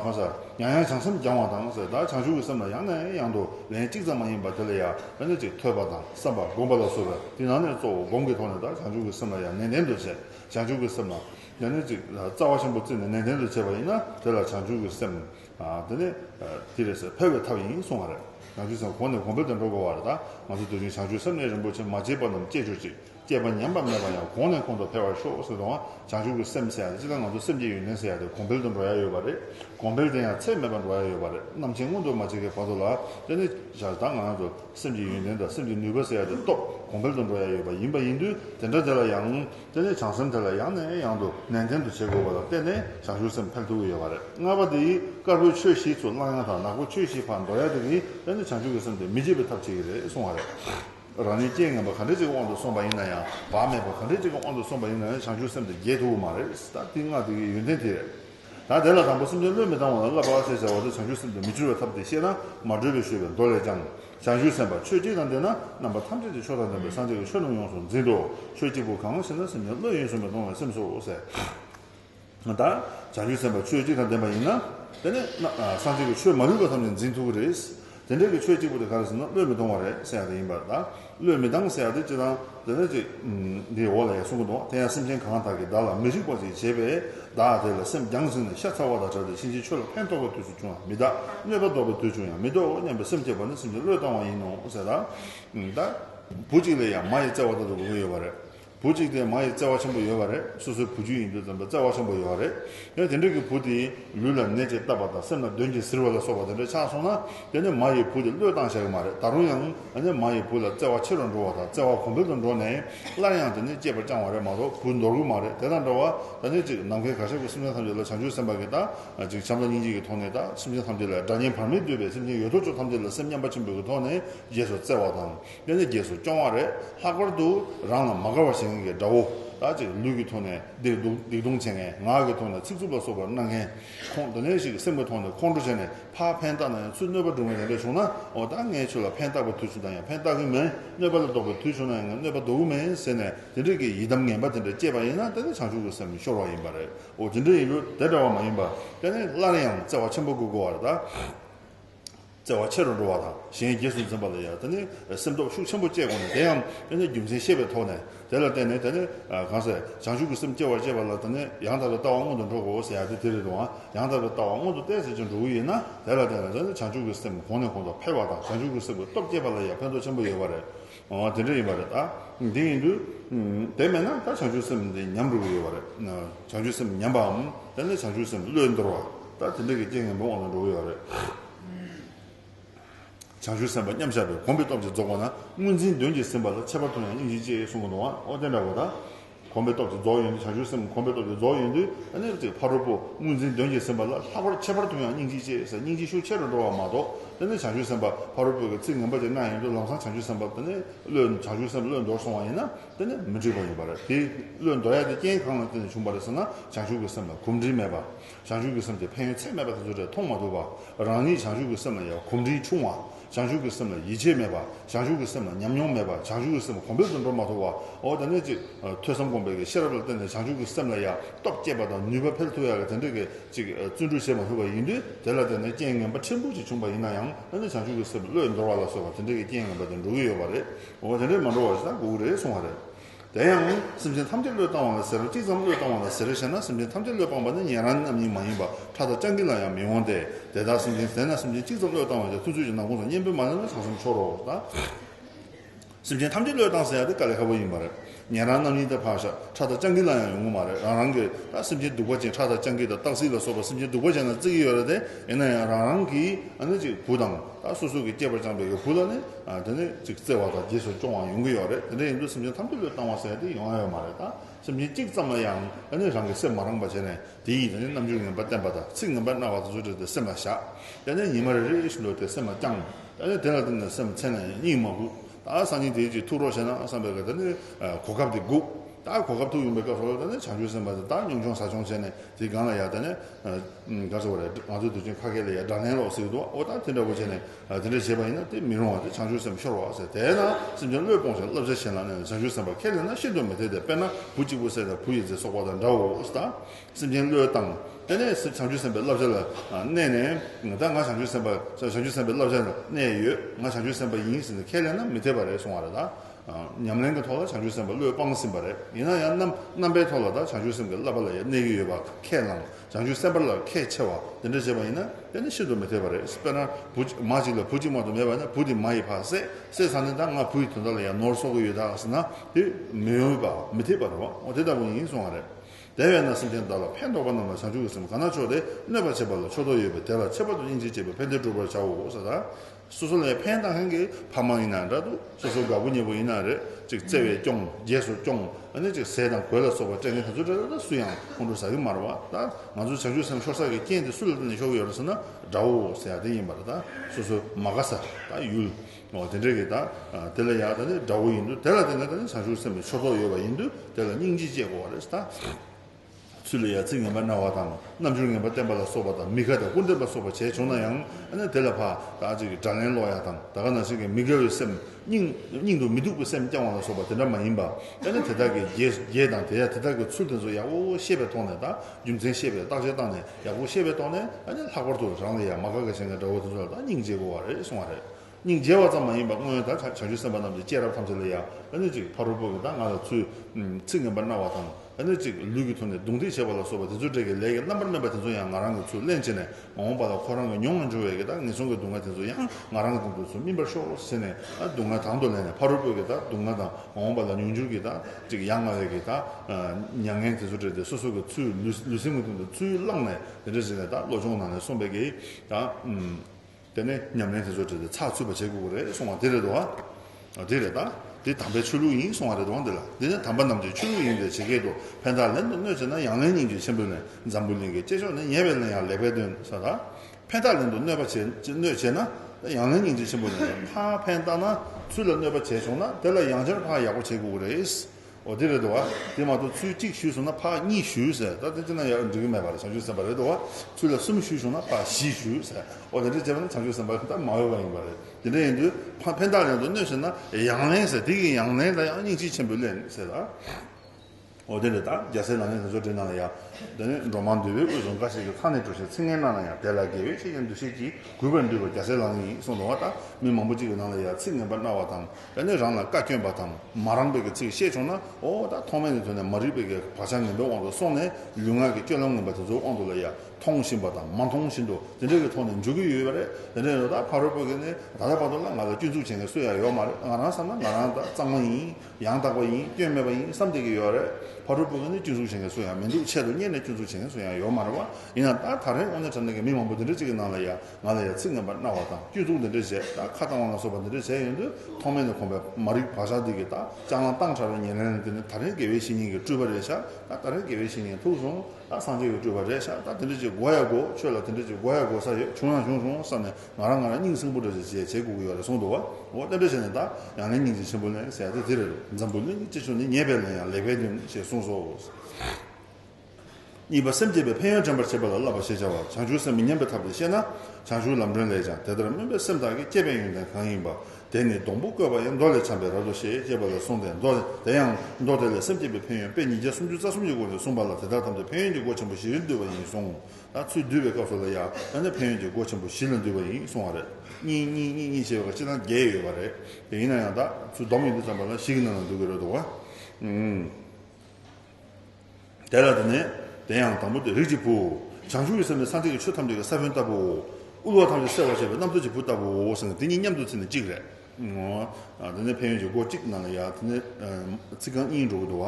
གང་ཟེར། ཡང་ཡང་བྱང་སེམས་སྦྱང་བ་དང་ཟེར་བདག་བྱང་ཆུབ་ཀྱི་སེམས་ལ་ཡང་ནས་ཡང་དུ་ལན་གཅིག་ཙམ་མ་ཡིན་པར་དེ་ལ་ཡང་ནས་གཅིག་ཐོས་པ་དང་བསམ་པ་བསྒོམ་པ་ལ་སོགས་པའི་དེ་ནང་ནས་གཙོ་བོ་སྒོམ་གྱི་ཐོག་ནས་བདག་བྱང་ཆུབ་ཀྱི་སེམས་ལ་ཡང་ནན་ཏན་དུ་བྱས་བྱང་ཆུབ་ཀྱི་སེམས་ལ་ཡང་ནས་གཅིག་རྩ་བ་ཆེན་པོ་བརྩིས་ནས་ནན་ཏན་དུ་བྱས་པ་ཡིན་ན་དེ་ལ་བྱང་ཆུབ་ཀྱི་སེམས། དེ་ནས་དེ་རེད་ཟེར་ཕེར་བའི་ཐབས་ཡིན་གསུང་བ་རེད། ཡང་དེ་ཚོ་གོང་ནས་གོང་འཕེལ་དུ་འགྲོ་དགོས་བ་རེད་ད། ང་ཚོ་དུས་ཆེན་བྱང་ཆུབ་སེམས་ནས་རིན་པོ་ཆེ་མ་སྐྱེས་པ་རྣམས་བསྐྱེད་ཆོག་ཅིག་སྐྱེས་པ་ཉམས་པ་མེད་པ་ཡང་གོང་ནས་གོང་དུ་འཕེལ་བར་ཤོག་ཟེར་དུང་བྱང་ཆུབ་ཀྱི་སེམས་བསད་ཡག་ཅི་ལ་ང་ཚོ་སེམས་བསྐྱེད་ཡོན་ཏན་བསད་ཡག་དེ་གོང་འཕེལ་དུ་འགྲོ་ཡག་ཡོད་བ་རེད། གོང་འཕེལ་དེ་ཡང་ཚད་མེད་པར་འགྲོ་ཡག་ཡོད་བ་རེད་རྣམ་མཁྱེན་མངོན་དུ་མ་བྱས་ཀྱི་བར་དུ་ལ་དེ་ནི་བྱ་ད་ང་རང་ཚོ་སེམས་ཀྱི་ཡོན་ཏན་དང་སེམས་ཀྱི་ནུས་པ་བསད་ཡག་དེ་སྟོབས་གོང་འཕེལ་དུ་འགྲོ་ཡག་ཡོད་བ་ཡིན་པ་ཡིན་དུས་དེ་འདྲ་དེ་ལ་ཡང། དེ་ནས་བྱང་སེམས་དེ་ལ་ཡང་ནས་ཡང་དུ་ནན་ཏན་དུ་བྱེད་དགོས་པ་ལ་བརྟེན་ནས་བྱང་ཆུབ་སེམས་འཕེལ་ཐུབ་ཀྱི་ཡོད་པ་རེད། ལྔ་པ་དེ་ཡིས་དཀར་པོའི་ཆོས་བཞི་ཚུར་བླངས་ཡང་དང་ནག་པོ་ཆོས་བཞིའི་བར་འདོར་ཡང་དེ་གིས་བརྟེན་ནས་བྱང་ཆུབ་ཀྱི་སེམས་དེ་མི་བརྗེད་པའི་ཐབས་བྱེད་ཀྱི་རེད་གསུངས་བ་རེད། རང་ཉིད་རྐྱེན་ངན་པ་ག་འདྲི་ཅིག་གི་དབང་དུ་སོང་བ་ཡིན་ན་ཡང་བག་མེད་པ་ག་འདྲི་ཅིག་གི་དབང་དུ་སོང་བ་ཡིན་ན་ཡང་བྱང་ཆུབ་སེམས་དེ་རྒྱས་ཐུབ་ཀྱི་མ་རེད། ད་ཐེངས་སྔགས་དེ་གི་ཡོན་ཏན་དེ་རེད། ད་དེ་ལ་དང་པོ་སེམས་ཅན་བློས་མི་བཏང་བ་ལ་བསླབ་པ་ཞེས་བྱ་བ་འདི་བྱང་ཆུབ་སེམས་དང་མི་འཁྲུལ་བའི་ཐབས་དེ་ཤེས་ན་མ་གྲོལ་བའི་བཤོལ་བའི་མདོ་ལས་ཀྱང། བྱང་ཆུབ་སེམས་དཔའ་ཆོས་གཅིག་དང་ལྡན་ན་རྣམ་པ་ཐམས་ཅད་ཀྱི་མཆོག་དང་ལྡན་པའི་སངས་རྒྱས་ཀྱི་ཆོས་རྣམས་ཡོངས་སུ་འཛིན་ཏོ། ཆོས་གཅིག་པུ་གང་ཞེ་ན་སེམས་ཅན་བློས་ཡེངས་སུ་མི་གཏོང་བའི་སེམས་སོ། ད་བྱང་ཆུབ་སེམས་དཔའ་ཆོས་གཅིག་དང་ལྡན་པ་ཡིན་ན། དེ་ནས། སངས་རྒྱས་ཀྱི་ཆོས་མ་ལུས་པ་ཐམས་ཅད་འཛིན་ཐུབ་པ་རེད། དེ་འབྲེལ་གྱི་ཆོས་གཅིག་པོ་དེ་ག་རེ་ཟེར་ན་བློས་མི་གཏོང་བ་རེད་ཟེར་ཡག་དེ་ཡིན་པར་གདའ། བློས་མི་བཏང་ཟེར་ཡག་དེ་ཅི་དང་དེ་འདྲ་ཅིག། འདིའི་འོག་ལ་ཡང་གསུང་གི་འདུག་དེ་ཡང་སེམས་ཅན་གང་དག་གིས་བདག་ལ་མི་རིགས་པ་ཅིག་བྱས་པས་བདག་ཨ་དེ་ལ་སེམས་རྒྱང་བསྲིངས་ནས་ཤ་ཚ་བ་དང་འདྲ་སྟེ་ཕྱིན་ཅི་ཆོས་ལ་ཕན་ཐོགས་པའི་དུས་སུ་ཅུང་ཡང་མི་གདའ། གནོད་པ་བཟློག་པའི་དུས་ཅུང་ཡང་མི་བཟློག་སྙམ་པའི་སེམས་སྐྱེས་པ་ནི་སེམས་ཅན་བློས་བཏང་བ་ཡིན་ནོ་ཟེར། ད། བུ་གཅིག་ལས་ཡང་མ་ཡི་བརྩེ་བ་ལྟ་བུ་དགུ་ཡོད་པ་རེད། བུ་གཅིག་དེ་མ་ཡི་བརྩེ་བ་ཆེན་པོ་ཡོད་པ་རེད་སོ་སོའི་བུ་རྒྱུད་ཡིན་དུས་འཛམ་པའི་བརྩེ་བ་ཆེན་པོ་ཡོད་རེད་ཡང་དེ་འདྲ་གི་བུ་དེའི་ལུས་ལ་ནད་ཅིག་བཏབ་པ་དང་སེམས་ལ་གདོན་གྱིས་གཟིར་བ་ལ་སོགས་པ་དེ་འདྲ་ཆགས་སོང་ན་དེ་ནི་མ་ཡི་བུ་དེ་བློས་བཏང་བྱ་གི་མ་རེད་ད་རུང་ཡང་ནི་མ་ཡི་བུ་ལ་བརྩེ་བ་ཆེ་རུ་འགྲོ་བ་དང་བརྩེ་བ་གོང་འཕེལ་དུ་འགྲོ་ནས་སླར་ཡང་དེ་ནི་སྐྱེས་པར་བསྐྱང་བ་རེད་མ་གཏོགས་བུ་འདོར་གི་མ་རེད་དེ་དང་འདྲ་བར་ད་ནི་ཅིག་ནམ་མཁའི་གར་ཤར་གྱི་སེམས་ཅན་ཐམས་ཅད་ལ་བྱང་ཆུབ་སེམས་དཔའ་གིས་དང་ཅིག་བྱམས་དང་སྙིང་རྗེ་གི་ཐོག་ནས་དང་སེམས་ཅན་ཐམས་ཅད་ལ་དགྲ་གཉེན་བར་མེད་འདུལ་བའི་སེམས་ཅན་ཡོད་དོ་ཅོག་ཐམས་ཅད་ལ་སེམས་མཉམ་པ་ཆེན་པོ་གི་ཐོག་ནས་རྗེས་སུ་བརྩེ་བ་དང། བསྟན་རྩིས་རྒྱས་སུ་སྐྱོང་བ་རེད། ལྷག་པར་དུ་རང་ལ་མ་དགའ་བ་བྱེད་མཁན་གྱི་དགྲ་བོ། དག་ཅིག་ལུས་ཀྱི་ཐོག་ནས་སྡིག་ལྟུང་བྱེད་མཁན། ངག་གི་ཐོག་ནས་ཚིག་རྩུབ་ལ་སོགས་པར་གནང་མཁན། ཁོང་དེ་ནས་ཞིག་སེམས་ཀྱི་ཐོག་ནས་ཁོང་ཁྲོ་བྱས་ནས་ཕར་ཕན་བཏགས་ན་ཡང་ཚུར་གནོད་པ་འབྱུང་བའི་རེ་འབྲས་བྱུང་ན་འོ་ད་ངའི་ཆོས་ལ་ཕན་བཏགས་པའི་དུས་ཚོད་དང་ཡང་ཕན་བཏགས་གི་མེད་གནོད་པ་ལ་ཟློག་པའི་དུས་བྱུང་ན་ཡང་ང་གནོད་པ་ཟློག་གི་མེད་ཟེར་ནས་དེ་འདྲས་ཀྱི་ཡི་དམ་ངན་པ་དེ་འདྲ་སྐྱེས་པ་ཡིན་ན་དེ་ནི་བྱང་ཆུབ་ཀྱི་སེམས་ཤོར་བ་ཡིན་པ་རེད་འོ་དེ་འདྲས་ཡིན་ལུགས་དེ་འདྲ་བ་མ་ཡིན་པ་དེ་ནི་སླར་ཡང་བརྩེ་བ་ཆེན་པོ་དགོས་དགོས་བ་རེད་ད། བརྩེ་བ་ཆེ་རུ་འགྲོ་བ་དང་གཞན་རྗེས་སུ་འཛིན་པ་ལ་ཡང་སེམས་སྟོབས་ཤུགས་ཆེན་པོ་བསྐྱེད་དགོས་ནས་དེ་ཡང་རྒྱུ་མཚན་ཤེས་པའི་ཐོག་ནས་དེ་ལ་བརྟེན་ནས་གང་ཟེར་བྱང་ཆུབ་ཀྱི་སེམས་སྐྱེ་བར་བྱེད་པ་ལ་ཡང་དག་པའི་ལྟ་བ་སྔོན་དུ་འགྲོ་དགོས་ཟེར་ཡང་དེ་དེ་རེད་དུའང་ཡང་དག་པའི་ལྟ་བ་སྔོན་དུ་བསྟན་ཟེར་གྱི་འགྲོ་གི་ཡིན་ན་དེ་ལ་བརྟེན་ནས་བྱང་ཆུབ་ཀྱི་སེམས་གོང་ནས་གོང་དུ་འཕེལ་བ་དང་བྱང་ཆུབ་ཀྱི་སེམས་ཀྱི་སྟོབས་བསྐྱེད་པ་ལ་ཡང་ཕན་ཐོགས་ཆེན་པོ་ཡོད་པ་རེད། དེ་འདྲ་ཡིན་པ་རེད་ད། འདི་ཡིན་དུས། དེ་མེད་ན་ད་བྱང་ཆུབ་སེམས་དེ་ཉམས་འགྲོ་གི་ཡོད་པ་རེད། བྱང་ཆུབ་སེམས་ཉམས་པའམ་དེ་ནས་བྱང་ཆུབ་སེམས་བློས་འདོར་བ། ད་དེ་འདྲ་གི་རྐྱེན་ངན་པའི་དབང་ལ་འགྲོ་གི་ཡོད་རེད། བྱང་ཆུབ་སེམས་དཔའ་མཉམ་གཞག་པའི་གོམས་པའི་སྟོབས་ཀྱིས་རྫོགས་པ་ན་དངོས་འཛིན་དོན་གྱིས་ཟིན་པ་ལ་ཁྱད་པར་དུ་ཡང་སྙིང་རྗེ་སྐྱེ་ཞེས་གསུངས་པ་དང་འོ་དེ་འདྲ་བ་ད། གོམས་པའི་སྟོབས་ཀྱིས་རྫོགས་ཡོད་དུ་བྱང་ཆུབ་སེམས་གོམས་པའི་སྟོབས་ཀྱིས་རྫོགས་ཡོད་དུ། ཕ་རོལ་པོ་དངོས་འཛིན་གདོན་གྱིས་ཟིན་པ་ལ་ལྷག་པར་ཁྱད་པར་དུ་ཡང་སྙིང་རྗེ་སྐྱེས་སེ་སྙིང་རྗེ་ཤུགས་ཆེ་རུ་འགྲོ་བ་མ་གཏོགས་དེ་ནི་བྱང་ཆུབ་སེམས་དཔའ་ཕ་རོལ་པོ་ཀྱི་ཚིག་ངན་པ་ཅིག་གནང་ཡོད་དུ་ལམ་སང་བྱང་ཆུབ་སེམས་དཔའ་དེ་ནི་བློས་བྱང་ཆུབ་སེམས་བློས་འདོར་སོང་བ་ཡིན་ན་དེ་ནི་མི་འགྲིག་པ་ཡིན་པ་རེད་དེ་བློས་འདོར་ཡ་དེ་རྐྱེན་གང་ལ་བརྟེན་ནས་བྱུང་བ་རེད་ཟེར་ན་བྱང་ཆུབ་ཀྱི་སེམས་ལ་གོམས་འདྲིས་མེད་པ་བྱང་ཆུབ་ཀྱི་སེམས་དེ་ཕན་ཡོན་ཚད་མེད་པ་དེ་ཚོ་བྲལ་མཐོང་མ་ཐུབ་པ། རང་ཉིད་བྱང་ཆུབ་ཀྱི་སེམས་ལ་ཡང་གོམས་འདྲིས་ཆུང་བ། བྱང་ཆུབ་ཀྱི་སེམས་ལ་ཡིད་ཆེས་མེད་པ། བྱང་ཆུབ་ཀྱི་སེམས་ལ་ཉམས་མྱོང་མེད་པ། བྱང་ཆུབ་ཀྱི་སེམས་གོང་འཕེལ་དུ་འགྲོ་མ་ཐུབ་བ། འོ་དེ་ནས་ཅིག། ཐོས་བསམ་སྒོམ་པའི་ཤེས་རབ་ལ་བརྟེན་ནས་བྱང་ཆུབ་ཀྱི་སེམས་ལ་ཡང་སྟོབས་བསྐྱེད་པ་དང་ནུས་པ་འཕེལ་ཐུབ་ཡག་གི་དེ་འདྲ་གི་ཅིག། བརྩོན་འགྲུས་བྱེད་མ་ཐུབ་པ་ཡིན་དུས་དེ་ལ་བརྟེན་ནས་རྐྱེན་ངན་པ་ཕྲན་བུ་ཅིག་བྱུང་བ་ཡིན་ན་ཡང་ད་ནི་བྱང་ཆུབ་ཀྱི་སེམས་བློས་འདོར་བ་ལ་སོགས་པ་དེ་འདྲ་གི་རྐྱེན་ངན་པ་དེ་འགྲོ་གི་ཡོད་པ་རེད། འོ་དེ་འདྲས་མ་འགྲོ་བར་ཅི་ལྟར་འགོ་གི་རེད་གསུང་བ་རེད། དེ་ཡང། སེམས་ཅན་ཐམས་ཅད་བློས་བཏང་བ་ལ་ཟེར་རོ་གཅིག་ཙམ་བློས་བཏང་བ་ལ་ཟེར་རོ་ཞེ་ན་སེམས་ཅན་ཐམས་ཅད་བློས་སྤངས་པ་ནི་ཉན་རང་རྣམས་ཉིད་མ་ཡིན་པ་ཁྲ་དང་སྤྱང་ཀི་ལ་ཡང་མི་འོང་སྟེ། དེ་དག་སེམས་ཅན་ཟད་ན་སེམས་ཅན་གཅིག་ཙམ་བློས་བཏང་བ་དེ་ཐུགས་ཚོད་ཀྱི་ནང་ཁོང་དུ་གཉེན་པོས་མ་ལེན་ན་གྲངས་སམ་འཆོར་རོ། སེམས་ཅན་ཐམས་ཅད་བློས་བཏང་ཟེར་ཡ་དེ་དཀའ་ལས་ཁག་པོ་ཡིན་པ་རེད། ཉན་རང་རྣམས་ཉིད་དེ་ཕག་ཤ་ཁྲ་དང་སྤྱང་ཀི་ལ་ཡང་ཡོང་གི་མ་རེད་རང་རང་གི། ད་སེམས་ཅན་གདུག་པ་ཅན་ཁྲ་དང་སྤྱང་ཀི་དང་སྟག་གཟིག་ལ་སོགས་པ་སེམས་ཅན་གདུག་པ་ཅན་རྣམས་བརྩི་གི་ཡོད་རེད་དེ་ཡིན་ན་ཡང་རང་རང་གིས་ཨ་ནི་གཅིག་བུ་དང། སོ་སོ་གི་སྐྱེས་པར་བཅངས་པའི་ཡོ་བུ་ལ་ནི་དེ་ནི་གཅིག་བརྩེ་བ་དང་རྗེས་སུ་སྐྱོང་བ་ཡོང་གི་ཡོད་རེད་དེ་འདྲ་ཡིན་དུས་སེམས་ཅན་ཐམས་ཅད་བློས་བཏང་བ་ཟེར་དེ་ཡོང་ཡ་ཡོད་མ་རེད་ད་སེམས་ཅན་གཅིག་ཙམ་ལ་ཡང་དེ་ནི་རང་གི་སེམས་མ་རངས་པ་བྱས་ནས་དེ་ཡིས་དེ་ནི་རྣམ་འགྱུར་ངན་པ་བསྟན་པ་དང་ཚིག་ངན་པ་རྣ་བ་དང་བཟོས་བྲིས་ཏེ་སེམས་ལ་བཞག་དེ་ནི་ཉི་མ་རེ་རེ་བཞིན་དུ་དེ་སེམས་ལ་བཅངས་དེ་ནི་དེ་ལ་བརྟེན་ནས་སེམས་ཚད་ནས་སྙིང་མ་སྒུག་ད་སང་ཉིན་དེའི་ཅིག་ཐུག་རོགས་བྱས་ན་བསམ་པའི་སྐབས་དེ་ནི་གོ་སྐབས་དེ་སྒུག་ད་གོ་སྐབས་ཐུག་ཡོང་པའི་སྐབས་རོགས་ལ་དེ་ནི་བྱང་ཆུབ་སེམས་དཔའ་དེ་དག་སྙོམས་ཆུང་ཟ་ཆུང་བྱས་ནས་དེའི་སྒང་ལ་ཡར་དེ་ནི་དགའ་བྱུང་བ་རེད། ང་ཚོའི་དུས་ཆེན་ཁ་ཁས་ལེན་ཡ་སྒྲ་ལན་རོགས་ཟེར་གྱི་འདུག་ཨོ་ད་དེ་འདྲ་བོ་བྱས་ནས་དེ་འདྲ་བྱས་པ་ཡིན་ན་དེ་མི་རུང་བ་དེ་བྱང་ཆུབ་སེམས་ཤོར་བ་ཟེར་དེས་ན་སེམས་ཅན་བློས་སྤོང་ཞིང་བསླབ་བྱ་གཞན་ལ་གནས་ནས་བྱང་ཆུབ་སེམས་པ་ཁས་ལེན་ན་ཤིན་ཏུ་མི་འཐད་དེ་དཔེར་ན་བུ་གཅིག་པུ་བསད་ནས་བུ་ཡི་རྫས་གསོག་པ་དང་འདྲ་བོ་ཨོ་ད་སེམས་ཅན་བློས་བཏང་དེ་ནས་བྱང་ཆུབ་སེམས་པའི་བསླབ་བྱ་ལ་གནས་ནས་ད་ང་བྱང་ཆུབ་སེམས་པ་བྱང་ཆུབ་སེམས་པའི་བསླབ་བྱ་ལ་གནས་ཡོད་ང་བྱང་ཆུབ་སེམས་པ་ཡིན་ཟེར་ནས་ཁས་ལེན་ན་མི་འཐད་པ་རེད་གསུང་བ་རེད་ད། ཉམས་ལེན་གྱི་ཐོག་ལ་བྱང་ཆུབ་སེམས་དཔའ་བློས་སྤངས་ཟིན་པ་རེད་ཡིན་ན་ཡང་རྣམ་པའི་ཐོག་ལ་དང་བྱང་ཆུབ་སེམས་ཀྱི་བསླབ་པ་ལ་ཡང་གནས་ཀྱི་ཡོད་པ་ཁས་བླངས་བྱང་ཆུབ་སེམས་དཔའ་ལ་ཁས་འཆེ་བ་དེ་འདྲ་བྱེད་པ་ཡིན་ན་དེ་ནི་ཤིན་ཏུ་མི་འཐད་པ་རེད་དཔེར་ན་བུ་མ་ཅིག་ལ་བུ་གཅིག་མ་གཏོགས་མེད་པ་ན་བུ་དེས་མ་ཡི་ཕ་བསད་བསད་ཚར་ནས་ད་ང་བུ་ཡི་དོན་དག་ལ་ཡང་ནོར་སོགས་ཀྱི་ཡོད་དག་ཟེར་ན་དེ་མི་འོས་པ་མི་འཐད་པ་རེད་བ་དེ་ལྟ་བུ་ཡིན་སོང་བ་རེད། དེ་བས་ན་སེམས་ཅན་དག་ལ་ཕན་འདོགས་པ་རྣམས་ལ་བྱང་ཆུབ་ཀྱི་སེམས་གང་ན་ཕྱོགས་ཏེ་གནོད་པར་བྱེད་པ་ལ་ཕྱོགས་མདོག་ཡོད་པས་དེ་ལ་ཁྱད་པར་དུ་སྙིང་རྗེ་བསྐྱེད་པའི་ཕན་བདེ་བསྒྲུབ་པར་བྱའོ་ཟེར་ན། སོ་སོ་ལས་ཕན་བཏགས་མཁན་གྱི་ཕ་མ་ཡིན་ན་འདྲ་འདུག་སོ་སོ་དགའ་པོ་མྱོས་པོ་ཡིན་ན་རེད་ཅིག་བརྩེ་བས་སྐྱོང་རྒྱས་སུ་སྐྱོང་ཨ་ནི་ཅིག་ཟས་དང་གོས་ལ་སོགས་པ་སྤྲད་མཁན་དེ་ཚོ་འདྲ་འདྲ་སུ་ཡང་ཁོང་ཁྲོ་ཟ་གི་མ་རེད་བ་ད་ང་ཚོ་བྱང་ཆུབ་སེམས་ཤོར་ས་ཀྱི་རྐྱེན་དེ་སུ་ལ་བསྟན་ནས་ཤོར་གི་ཡོད་རེད་ཟེར་ན་འདྲ་བོ་ཟེར་ཡག་དེ་ཡིན་པ་རེད་ད་སོ་སོ་མ་དགའ་ས་ད་ཡུལ་བ་དེ་འདྲས་ཀྱི་ད་དེ་ལ་ཡག་ད་ནི་འདྲ་བོ་ཡིན་དུས་དེ་ལ་བརྟེན་ནས་ད་ནི་བྱང་ཆུབ་སེམས་ལ་ཕྱོགས་གཏོགས་ཡོད་པ་ཡིན་དུས་དེ་ལ་སྙིང་རྗེ་བཅས་དགོས་བ་རེད་ད། ཚུལ་ལ་ཡང་ཚིག་ངན་པ་རྣ་བ་དང་རྣམ་འགྱུར་ངན་པ་བསྟན་པ་ལ་སོགས་པ་དང་མི་དགའ་དང་སྐུར་འདེབས་ལ་སོགས་པ་བྱས་བྱུང་ན་ཡང་དེ་ལ་བར་ཐག་ཅིག་གིས་དགྲ་ལན་སློག་ཡ་དང་ད་ག་ནང་བཞིན་གྱི་མི་དགའ་བའི་སེམས་སྙིང་དུ་མི་སྡུག་པའི་སེམས་བསྐྱང་བ་ལ་སོགས་པ་དེ་འདྲ་མ་ཡིན་པ་དེ་དག་གིས་རྒྱས་དང་དེ་ཡང་དེ་དག་གི་ཚུལ་དེ་ཚོ་ཡག་པོ་ཤེས་པའི་ཐོག་ནས་དང་རྒྱུ་མཚན་ཤེས་པའི་བརྟག་དཔྱད་བཏང་ནས་ཡག་པོ་ཤེས་པའི་ཐོག་ནས་ལྷག་པར་དུ་རང་ལ་ཡང་མ་དགའ་ག་བྱེད་མཁན་དགྲ་བོ་དེ་ཚོ་ལ་དང་སྙིང་རྗེ་དགོས་བ་རེད་གསུང་བ་རེད། སྙིང་རྗེ་བ་ཙམ་མ་ཡིན་པར་སྔོན་ད་ག་བྱང་ཆུབ་སེམས་དཔའ་རྣམས་ཀྱི་སྐྱེས་རབས་ཐམས་ཅད་ལ་ཡང། ཕ་རོལ་པོ་དགེ་སྡང་ང་ལ་ཚུལ། ཚིག་ངན་པར་སྣང་བ་དང། ལུས་ཀྱི་ཐོག་ནས་རྡུང་རྡེག་བྱེད་པ་ལ་སོགས་པ་དེ་ཚོའི་འབྲས་ཀྱི་ལས་ཀྱི་རྣམ་པར་སྨིན་པ་དེ་ཚོ་ཡང་ང་རང་གི་ཚུར་གླེང་བྱས་ནས་མ་འོངས་པ་ལ་ཁོ་རང་གི་མྱོང་བར་འགྱུར་བའི་དགེ་སྡང་ངན་སོང་གི་སྡུག་བསྔལ་དེ་ཚོ་ཡང་ང་རང་གི་འདུག་ཚུལ་སྨིན་པར་ཤོག་ཟེར་ནས་སྡུག་བསྔལ་དང་དུ་ལེན་ནས་ཕ་རོལ་པོ་དགེ་སྡང་སྡུག་བསྔལ་དང་མ་འོངས་པ་ལ་མྱོང་འགྱུར་གྱི་དག། ཡ་ང་བའི་དགེ་སྡང། མྱ་ངན་དེ་ཚོ་བྲལ་ཏེ་སོ་སོ་གི་ཚུལ་ལུས་སེམས་ཀྱི་སྟེང་དུ་ཚུར་བླངས་ནས་དེ་འདྲ་བྱས་ནས་ད་བློ་སྦྱོང་ནང་ནས་སོང་བའི་དགེ། དེ་ནས་ཉམས་ལེན་དེ་ཚོ་བྲིས་ཏེ་ཚགས་ཚུད་པ་བྱེད་དགོས་ཀྱི་རེད་གསུངས་བ་དེ་རེད་དོ། དེ་རེད་ད། དེ་དམ་པའི་ཆོས་ལུགས་ཡིན་གསུངས་བ་རེད་དོ་འདི་ལ་འདི་ནི་དམ་པ་རྣམས་ཀྱི་ཆོས་ལུགས་ཡིན་ཏེ་ཇི་སྐད་དུ་ཕན་བཏགས་ལན་དུ་གནོད་བྱེད་ན་ཡང་ལན་སྙིང་རྗེ་ཆེན་པོས་ནས་འཛམ་བུའི་གླིང་གི་སྐྱེས་མཆོག་ནི་ཉེས་པའི་ལན་ཡང་ལེགས་པའི་དོན་ས་ད། ཕན་བཏགས་ལན་དུ་གནོད་པ་བྱེད་གནོད་བྱེད་ན་ཡང་ལན་སྙིང་རྗེ་ཆེན་པོས་ནས་ཕ་ཕན་བཏགས་ན་ཚུལ་ལ་གནོད་པ་བྱས་བྱུང་ན་དེ་ལ་ཡང་བསྐྱར་ཕ་ཡག་པོ་བྱེད་དགོས་ཀྱི་རེད། འོ་དེ་རེད་དོ། དེ་མ་གཏོགས་ཚུལ་གཅིག་ཞུས་སོང་ན་ཕག་གཉིས་ཞུས་ཟེར་ད་དེ་ཚོ་ན་ཡག་འགྲིག་གི་མེད་པ་རེད་བྱང་ཆུབ་སེམས་དཔའ་རེད་དོ། ཚུལ་ལ་གསུམ་ཞུས་བྱུང་ན་ཕག་བཞི་ཞུས་ཟེར་འོ་དེ་འདྲ་བྱས་པ་ན་བྱང་ཆུབ་སེམས་དཔའ་ད་མ་འོས་པ་ཡིན་པ་རེད་དེ་འདྲ་ཡིན་དུས་ཕ་ཕན་བཏགས་ཡོང་དུ་གནོད་ཟེར་ན་ཡང་ལེན་ཟེར་དེ་གི་ཡང་ལེན་ད་ཡང་སྙིང་རྗེ་ཆེན་པོས་ལེན་ཟེར་ད། འོ་དེ་རེད་ད་རྒྱལ་སྲས་ལགས་ནས་དེ་ཚོ་དྲིས་གནང་ན་ཡག་དེ་ནས་འབྲོག་མང་འདུལ་བའི་དབུས་སུ་འགའ་ཞིག་གི་ཚང་ནས་འགྲོ་བཞིན་ཚིག་ངན་གནང་ན་ཡང་དེ་ལ་དགེ་བའི་ཆེད་ཀྱི་འདུ་ཤེས་ཀྱིས་གུས་པར་འདུལ་བ་རྒྱལ་སྲས་ལགས་ནས་ཡིན་གསུངས་འདུག་བ་ད་མི་མང་པོ་གཅིག་གི་ནང་ལ་ཡང་ཚིག་ངན་པ་གནང་བ་དང། ད་ནི་རང་ལ་བཀའ་བཀྱོན་པ་དང་མ་རངས་པའི་ཚིག་བཤད་བྱུང་ན་ཨོ་ད་ཐོག་མེད་ནས་ཐོས་ནས་མ་རིག་པའི་བག་ཆགས་ངན་པའི་དབང་དུ་སོང་ནས་ལུས་ངག་གི་སྤྱོད་ལམ་ངན་པ་དེ་ཚོའི་དབང་དུ་ལ་ཡ་མཐོང་བཞིན་པ་དང་མ་མཐོང་བཞིན་དུ་དེ་འདྲ་གི་ཐོག་ནས་འཇུག་གི་ཡོད་རེད་དེ་འདྲ་ཡིན་ན་ད་ཕ་རོལ་པོ་གིས་ནི་ད་ལྟ་བར་དུ་ལ་ང་ལ་སྐྱོན་འཛུགས་བྱེད་མཁན་སུ་ཡང་ཡོད་མ་རེད་ང་རང་བསམ་ན་ང་རང་ད་གཙང་མ་ཡིན་ཡང་དག་པ་ཡིན་སྐྱོན་མེད་པ་ཡིན་བསམ་བསྡད་ཀྱི་ཡོད་རེད་ཕ་རོལ་པོ་གིས་ནི་སྐྱོན་འཛུགས་བྱེད་མཁན་སུ་ཡང་མི་འདུག་ཆེད་དུ་གཉེར་ནས་སྐྱོན་འཛུགས་བྱེད་མཁན་སུ་ཡང་ཡོད་མ་རེད་བ་ཡིན་ན་ད་ད་རེང་དབུ་ནས་དྲ་གནས་ཀྱི་མི་མང་པོ་འདི་འདྲ་གཅིག་གི་ནང་ལ་ཡ་ང་ལ་ཡང་ཚིག་ངན་པར་རྣ་བ་དང་སྐྱོན་འཛུགས་འདི་འདྲས་བྱས་ད་ཁ་བཏང་བ་ལ་སོགས་པ་འདི་འདྲས་བྱས་ཡོང་དུས་ཐོག་མེད་ནས་ཁོང་པའི་མ་རིག་བག་ཆགས་འདི་གིས་ད་ལྕགས་གླང་སྟངས་ཕྲ་བའི་ཉེ་ལན་རེ་འདི་ནི་ད་རིང་དགེ་བའི་བཤེས་གཉེན་གྱི་སྤྲུལ་པ་རེད་ཤག་ད་ད་རིང་དགེ་བའི་བཤེས་གཉེན་ཐུག་སོང་ད་སངས་རྒྱས་ཀྱི་སྤྲུལ་པ་རེད་ཤག་ད་དེ་འདྲས་ཀྱི་མགོ་ཡག་དགོས་ཁྱོད་ལ་དེ་འདྲས་ཀྱི་མགོ་ཡག་དགོས་ས་ཡོད་བྱུང་ཡང་བྱུང་སོང་བསམ་ནས་ང་རང་ང་རང་སྙིང་སིང་པོ་འདྲ་ཞིག་བྱེད་བྱེད་དགོས་ཀྱི་ཡོད་རེད་གསུངས་འདུག་བ་འོ་དེ་འདྲས་བྱས་ནས་ད་ཡང་ལན་སྙིང་རྗེ་ཆེན་པོ་ལན་ཟེར་ཡ་དེ་དེ་རེད་འཛམ་བུའི་གླིང་གི་སྤྱི་ཚོགས་ནི་ཉེས་པའི་ལན་ཡང་ལེགས་པའི་ལན་ཞེས་གསུངས་སོ། གཉིས་པ་སེམས་བསྐྱེད་པའི་ཕན་ཡོན་དྲན་པར་བྱེད་པ་ལ་བསླབ་པ་ཞེས་བྱ་བ་བྱང་ཆུབ་སེམས་མི་ཉམས་པའི་ཐབས་ལས་བཤད་ན་བྱང་ཆུབ་ལམ་སྒྲོན་ལས་ཀྱང་དེ་ལྟར་སྨོན་པའི་སེམས་དག་གིས་བསྐྱེད་པའི་ཡོན་ཏན་གང་ཡིན་པ་དེ་ནི་སྡོང་བུ་བརྐོས་པ་ཡང་མདོ་ལས་བྱམས་པའི་རབ་ཏུ་ཞེས་བསྐྱེད་པ་ལས་གསུངས་ཏེ་མདོ་དེ་ཡང་མདོ་དེ་ལས་སེམས་བསྐྱེད་པའི་ཕན་ཡོན་དཔེ་ཉིས་བརྒྱ་སུམ་ཅུ་རྩ་གསུམ་གྱི་སྒོ་ནས་གསུངས་པ་ལ་དེ་དག་ཐམས་ཅད་ཕན་ཡོན་གྱི་སྒོ་ཆེན་པོ་བཞིར་འདུས་པ་ཡིན་གསུངས་ལ་ཚུལ་བསྡུས་པའི་སྐབས་སུ་ལ་ཡང་ད་ནི་ཕན་ཡོན་གྱི་སྒོ་ཆེན་པོ་བཞི་ལ་འདུས་པ་ཡིན་གསུངས་བ་རེད། གཉིས་གཉིས་གཉིས་གཉིས་ཞེས་པ་ཀ་གཅིག་དང་བརྒྱད་ཡོད་པ་རེད་དེ་ཡིན་ན་ཡང་དག་ཚུལ་བསྡོམས་ཡིན་དུ་བརྩམས་པ་ལ་བཞི་གི་ནང་ན་འདུས་ཀྱི་རེད་དོ། དེ་ལ་དེ་ནས་དེ་ཡང་དང་པོ་དེ་རིགས་ཀྱི་བུ། བྱང་ཆུབ་ཀྱི་སེམས་ནི་སངས་རྒྱས་ཀྱི་ཆོས་ཐམས་ཅད་ཀྱི་ས་བོན་ལྟ་བུའོ། དབུལ་བ་ཐམས་ཅད་སེལ་བར་བྱེད་པའི་རྣམ་རྟོག་གི་བུ་ལྟ་བུའོ་ཟེར་ནས་དེ་གཉིས་མཉམ་དུ་ཚིག་ནི་གཅིག་རེད། དེ་ནས་ཕན་ཡོན་གྱི་སྒོ་གཅིག་ན་ལ་ཡ། དེ་ནས་ཚིག་རྐང་གཉིས་འགྲོ་གི་འགྲོ་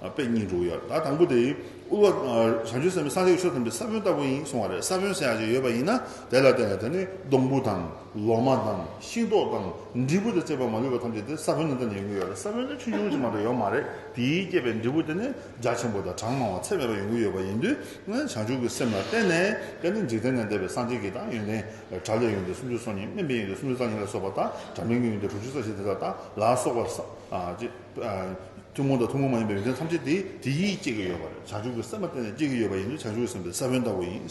བ་དཔེ་གཉིས་འགྲོ་གི་ཡོད། ད་དང་པོ་དེ། དབུལ་བ། བྱང་ཆུབ་སེམས་ནི་སངས་རྒྱས་ཀྱི་ཆོས་ཐམས་ཅད་ཀྱི་ས་བོན་ལྟ་བུ་ཡིན་གསུང་བ་རེད་ས་བོན་སེལ་བ་ཞིག་ཡོད་པ་ཡིན་ན་དེ་ལ་བརྟེན་ནས་དེ་ནི་སྡོང་བུ་དང། ལོ་མ་དང་ཤིང་ཏོག་དང་འབྲས་བུ་དང་བཅས་པའི་མ་ལུས་པ་ཐམས་ཅད་དེ་ས་བོན་ནི་འདི་ནས་ཡོང་གི་ཡོད་ལ་ས་བོན་ནི་ཆུ་ཆུང་ཆུང་མ་འདྲ་ཡོད་མ་རེད་དེས་བསྐྱེད་པའི་འབྲས་བུ་དེ་ནི་རྒྱ་ཆེན་པོ་དང་གྲངས་མང་བ་ཚད་མེད་པ་ཡོང་གི་ཡོད་པ་ཡིན་དུས་བྱང་ཆུབ་ཀྱི་སེམས་ལ་བརྟེན་ནས་དེ་ནི་འཇིག་རྟེན་ནས་འདས་པའི་སངས་རྒྱས་ཀྱི་དང་ཡོན་ཏན་དགྲ་ལས་ཡོང་དུས་སུམ་ཅུ་སོ་གཉིས་སྨིན་པས་ཡོང་དུས་སུམ་ཅུ་རྩ་གཉིས་ལ་སོགས་པ་དང་དགྲ་མིན་གྱི་ཡོང་དུས་དྲུག་ཅུ་རྩ་བཞི་དེ་དག་དང་ལ་སོགས་པ་ཐུན་མོང་དང་ཐུན་མོང་མ་ཡིན་པའི་ཡོན་ཏན་ཐམས་ཅད་དེ་དེས་བསྐྱེད་ཀྱི་ཡོད་པ་རེད་བྱང་ཆུབ་ཀྱི་སེམས་ལ་བརྟེན་ནས་བསྐྱེད་ཀྱི་ཡོད་པ་ཡིན་དུས་བྱང་ཆུབ་ཀྱི་སེམས་དེ་ས་བོན་ལྟ་བུ་ཡིན།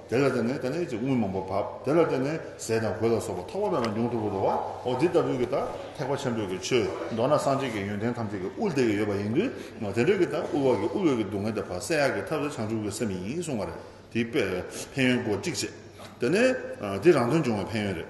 དེ་ལ་བརྟེན་ནས་ད་ནི་ཅིག་དངུལ་མང་པོ་བབ། དེ་ལ་བརྟེན་ནས་ཟས་དང་གོས་ལ་སོགས་པ་ཐོགས་པ་མེད་པ་འབྱུང་ཐུབ་པར་འགྲོ་བའོ། འདི་ལྟ་བུའི་གྱི་དག་ཐེག་པ་ཆེན་པོའི་གྱི་ཆོས་མདོར་ན་སངས་རྒྱས་ཀྱི་ཡོན་ཏན་ཐམས་ཅད་ཀྱི་དབུར་དེ་གྱི་ཡོད་པ་ཡིན་དུས། དེ་འདྲའི་གྱི་དག་དབུལ་བ་གྱི་དབུལ་བའི་གྱི་སྡུག་བསྔལ་དེ་བར་གསལ་ཡག་གི་ཐབས་སུ་བྱང་ཆུབ་ཀྱི་སེམས་ཡིན་གསུངས་པ་རེད། དེའི་དཔེ། ཕན་ཡོན་སྒོ་གཅིག་བྱེད། དེ་ནི། འདི་རང་དོན་འབྱུང་བའི་ཕན་ཡོན་རེད།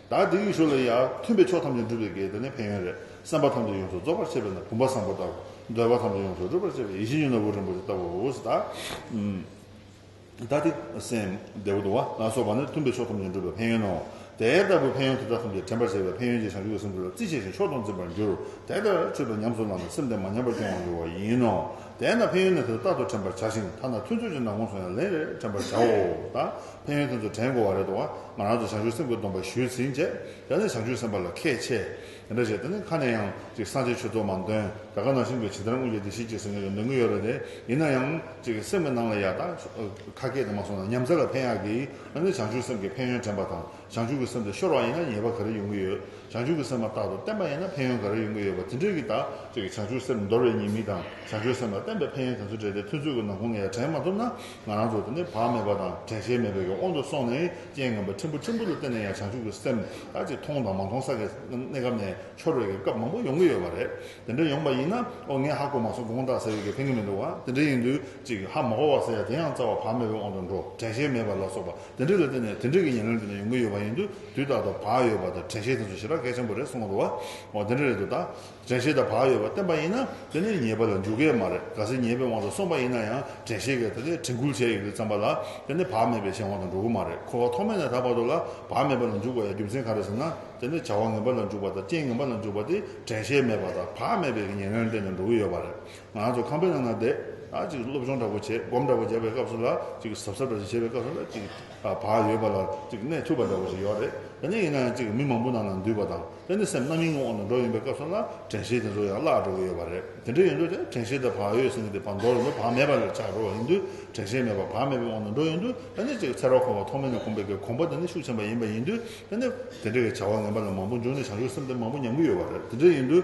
བདག་འདི་ཡུལ་ཤུལ་ལ་ཡང་མཐུན་པའི་ཕྱོགས་ཐམས་ཅད་འགྲུབ་པའི་གེགས་དང་ནི་ཕན་ཡོན་རེག་སེམས་པ་ཐམས་ཅད་ཡོངས་སུ་རྫོགས་པར་བྱེད་པས་ན་བུམ་པ་བཟང་པོ་ལྟར་འདོད་པ་ཐམས་ཅད་ཡོངས་སུ་སྒྲུབ་པར་བྱེད་པའི་ཡེ་ཤེས་གཡུང་ན་བུ་རིན་པོ་ཆེ་ལྟ་བུའོ། བདག་འདི་སེམས་བདེ་བོ་དང་བ་ལ་སོགས་པ་ནི་མཐུན་པའི་ཕྱོགས་ཐམས་ཅད་འགྲུབ་པའི་ཕན་ཡོན་ནོ། དེ་ལྟ་བུའི་ཕན་ཡོན་དེ་དག་ཐམས་ཅད་དྲན་པར་བྱེད་པའི་ཕན་ཡོན་གྱིས་བྱང་ཆུབ་ཀྱི་སེམས་དེ་ལ་རྩིས་ཆེ་ཞིང་མཆོག་ཏུ་འཛིན་པར་འགྱུར། དེ་ལྟར་མཆོད་པའི་ཉམས་སུ་བླངས་ན་སེམས་དེ་མ་ཉམས་པར་སྐྱོང་བར་འགྱུར་བ་ཡིན་ནོ། དེས་ན་ཕན་ཡོན་ནི་དེ་ལྟར་རྟག་ཏུ་དྲན་པར་བྱ་ཞིང་ཐ་ན་མཐུན་ཕྱོགས་ཀྱི་ནགས་ཀུན་སོང་ཡང་ལན་རེར་དྲན་པར་བྱའོ། ཕན་ཡོན་དེ་ཚོ་དྲན་དགོས་བ་རེད་དོ། ང་རང་ཚོ་བྱང་ཆུབ་སེམས་དགོས་སྟོན་པ་ཞུས་ཟིན་རྗེས་ད་ནི་བྱང་ཆུབ་སེམས་དཔའ་ལ་ཁས་འཆེས། དེ་འདྲ་བྱས་ད་ནི་ཁ་ནས་ཡང་ཅིག་སངས་རྒྱས་ཆོས་ཚོགས་མང་འདོན་དགྲ་དགའ་ན་ཤིང་པས་ཇི་ལྟར་རྔུལ་ཆ་དེ་བཞིན་ཅིག་ཟེར་ངེས་ཀྱི་འདོད་མཁན་ཡོད་རེད་དེ། ཡིན་ན་ཡང་ཅིག་སེམས་ཀྱི་ནང་ལ་ཡག་ཐག་ཁ་སྐད་དེ་མ་སོང་ན་ཉམས་ཚད་ལ་ཕན་ཡག་གི། ད་ནི་བྱང་ཆུབ་སེམས་ཀྱི་ཕན་ཡོན་དྲན་པ་དང་བྱང་ཆུབ་ཀྱི་སེམས་དེ་ཤོར་བ་ཡིན་ན་ཉེས་པ་ག་རེ་ཡོང་གི་ཡོད། བྱང་ཆུབ་ཀྱི་སེམས་མ་རྟག་ཏུ་བརྟན་པ་ཡིན་ན་ཕན་ཡོན་ག་རེ་ཡོང་གི་ཡོད་པ་དེ་འདྲས་ཀྱི་ད་ཅིག་བྱང་ཆུབ་སེམས་འདོར་བའི་ཉེས་མིང་དང་བྱང་ཆུབ་སེམས་ལ་བརྟན་པའི་ཕན་ཡོན་དེ་ཚོ་བྲལ་ཏེ་ཐུན་ཚོད་ཀྱི་ནང་ཁོང་ནས་ཡང་དྲན་མ་ཐུབ་ན་ང་རང་ཚོ་དེ་ནི་བག་མེད་པ་དང་དྲན་ཤེས་མེད་པའི་དབང་དུ་སོང་ནས་རྐྱེན་ངན་པ་ཕྲན་བུ་ཕྲན་བུ་ལ་བརྟེན་ནས་ཡང་བྱང་ཆུབ་ཀྱི་སེམས་དག་ཅིག་མཐོང་དང་མ་མཐོང་ས་ཀྱི་གནས་སྐབས་ནས་འཆོར་བའི་སྐབས་མང་པོ་ཡོང་གི་ཡོད་པ་རེད། དེ་འདྲ་ཡོང་པ་ཡིན་ན་ཨོ་ངས་ཧ་གོ་མ་སོང་དགོངས་དག་ཟེར་བའི་གེགས་ཕན་གི་མི་འདུག་བ་དེ་འདྲ་ཡིན་དུས་ཅིག་ཧ་མ་གོ་བ་ཟེར་ཡ་དེ་ཡང་རྩ་བ་བག་མེད་པའི་དབང་དུ་འགྲོ་དྲན་ཤེས་མེད་པ་ལ་སོགས་པ་དེ་འདྲ་ལ་བརྟེན་ནས་དེ་འདྲ་གི་ཉེར་ལེན་དེ་འདྲ་ཡོང་གི་ཡོད་པ་ཡིན་དུས་དུས་རྟག་ཏུ་བག་ཡོད་པ་དང་དྲན་ཤེས་དེ་ཚོ་ཞེ་དྲག་གལ་ཆེན་པོ་རེད་གསུང་གི་འདུག་བ་འོ་དེ་འདྲ་རེད་འདུག་ད། དྲན་ཤེས་དང་བག་ཡོད་པར་བསྟན་པ་ཡིན་ན་དེ་ནི་ཉེས་པ་ལ་འཇུག་གི་མ་རེད་གལ་སྲིད་ཉེས་པའི་དབང་དུ་སོང་པ་ཡིན་ན་ཡང་དྲན་ཤེས་ཀྱིས་དེ་ལས་དྲན་སྐུལ་བྱས་ཡོད་པའི་བསམ་པ་ལ་དེ་ནི་བག་མེད་པའི་གཞན་དབང་དུ་འགྲོ་གི་མ་རེད་འཁོར་བ་ཐོག་མེད་ནས་ད་བར་དུ་ལ་བག་མེད་པ་ལ་འཇུག་པ་ཡང་རྒྱུ་མཚན་ག་རེ་ཟེར་ན་དེ་ནི་བྱ་བ་ངན་པ་ལ་འཇུག་པ་དང་རྐྱེན་ངན་པ་ལ་འཇུག་པ་དེ་དྲན་ཤེས་མེད་པ་དང་བག་མེད་པའི་གི་ཉེར་ལེན་སྟེང་ནས་འགྲོ་གི་ཡོད་པ་རེད་ང་རང་ཚོ་ཁང་པའི་ནང་ན་བསྡད་ད་ཅིག་སློབ་སྦྱོང་འདྲ་པོ་བྱས་སྒོམ་འདྲ་པོ་རྒྱབ་པའི་སྐབས་སུ་ལ་ཅིག་ཟབ་ཟབ་འདྲ་ཅིག་བྱས་པའི་སྐབས་སུ་ལ་ཅིག་བག་ཡོད་པ་ལ་ཅིག་གནས་ཐུབ་པ་འདྲ་པོ་ཞིག་ཡོད་རེད་དེ་ནི་ཡིན་ན་ཡང་ཅིག་མི་མང་པོ་ནང་ན་འདུས་པ་དང། དེ་ནི་སེམས་རྣམ་སྨིན་ངོ་བོ་ནས་འགྲོ་ཡིན་པའི་སྐབས་སུ་ལ་དྲན་ཤེས་དེ་ཚོ་ཡང་བརླག་འགྲོ་གི་ཡོད་པ་རེད། དེ་འདྲ་ཡིན་དུས་དེ་དྲན་ཤེས་དེ་བག་ཡོད་ཟིན་གྱི་བར་འགྲོ་རུ་འདུག་བག་མེད་པ་ལས་ཆགས་འགྲོ་བ་ཡིན་དུས་དྲན་ཤེས་མེད་པ་བག་མེད་པའི་དབང་དུ་འགྲོ་ཡིན་དུས་དེ་ནི་ཅིག་ཚེ་རབས་འཁོར་བ་ཐོག་མེད་ནས་གོམས་པའི་གོམས་པ་དེ་ནི་ཤུགས་ཆེན་པ་ཡིན་པ་ཡིན་དུས་དེ་ནི་དེ་འདྲ་གི་བྱ་བ་ངན་པ་ལས་མང་པོ་འབྱུང་ནས་བྱང་ཆུབ་སེམས་དེ་མང་པོ་ཉམས་ཀྱི་ཡོད་པ་རེད་དེ་འདྲ་ཡིན་དུས།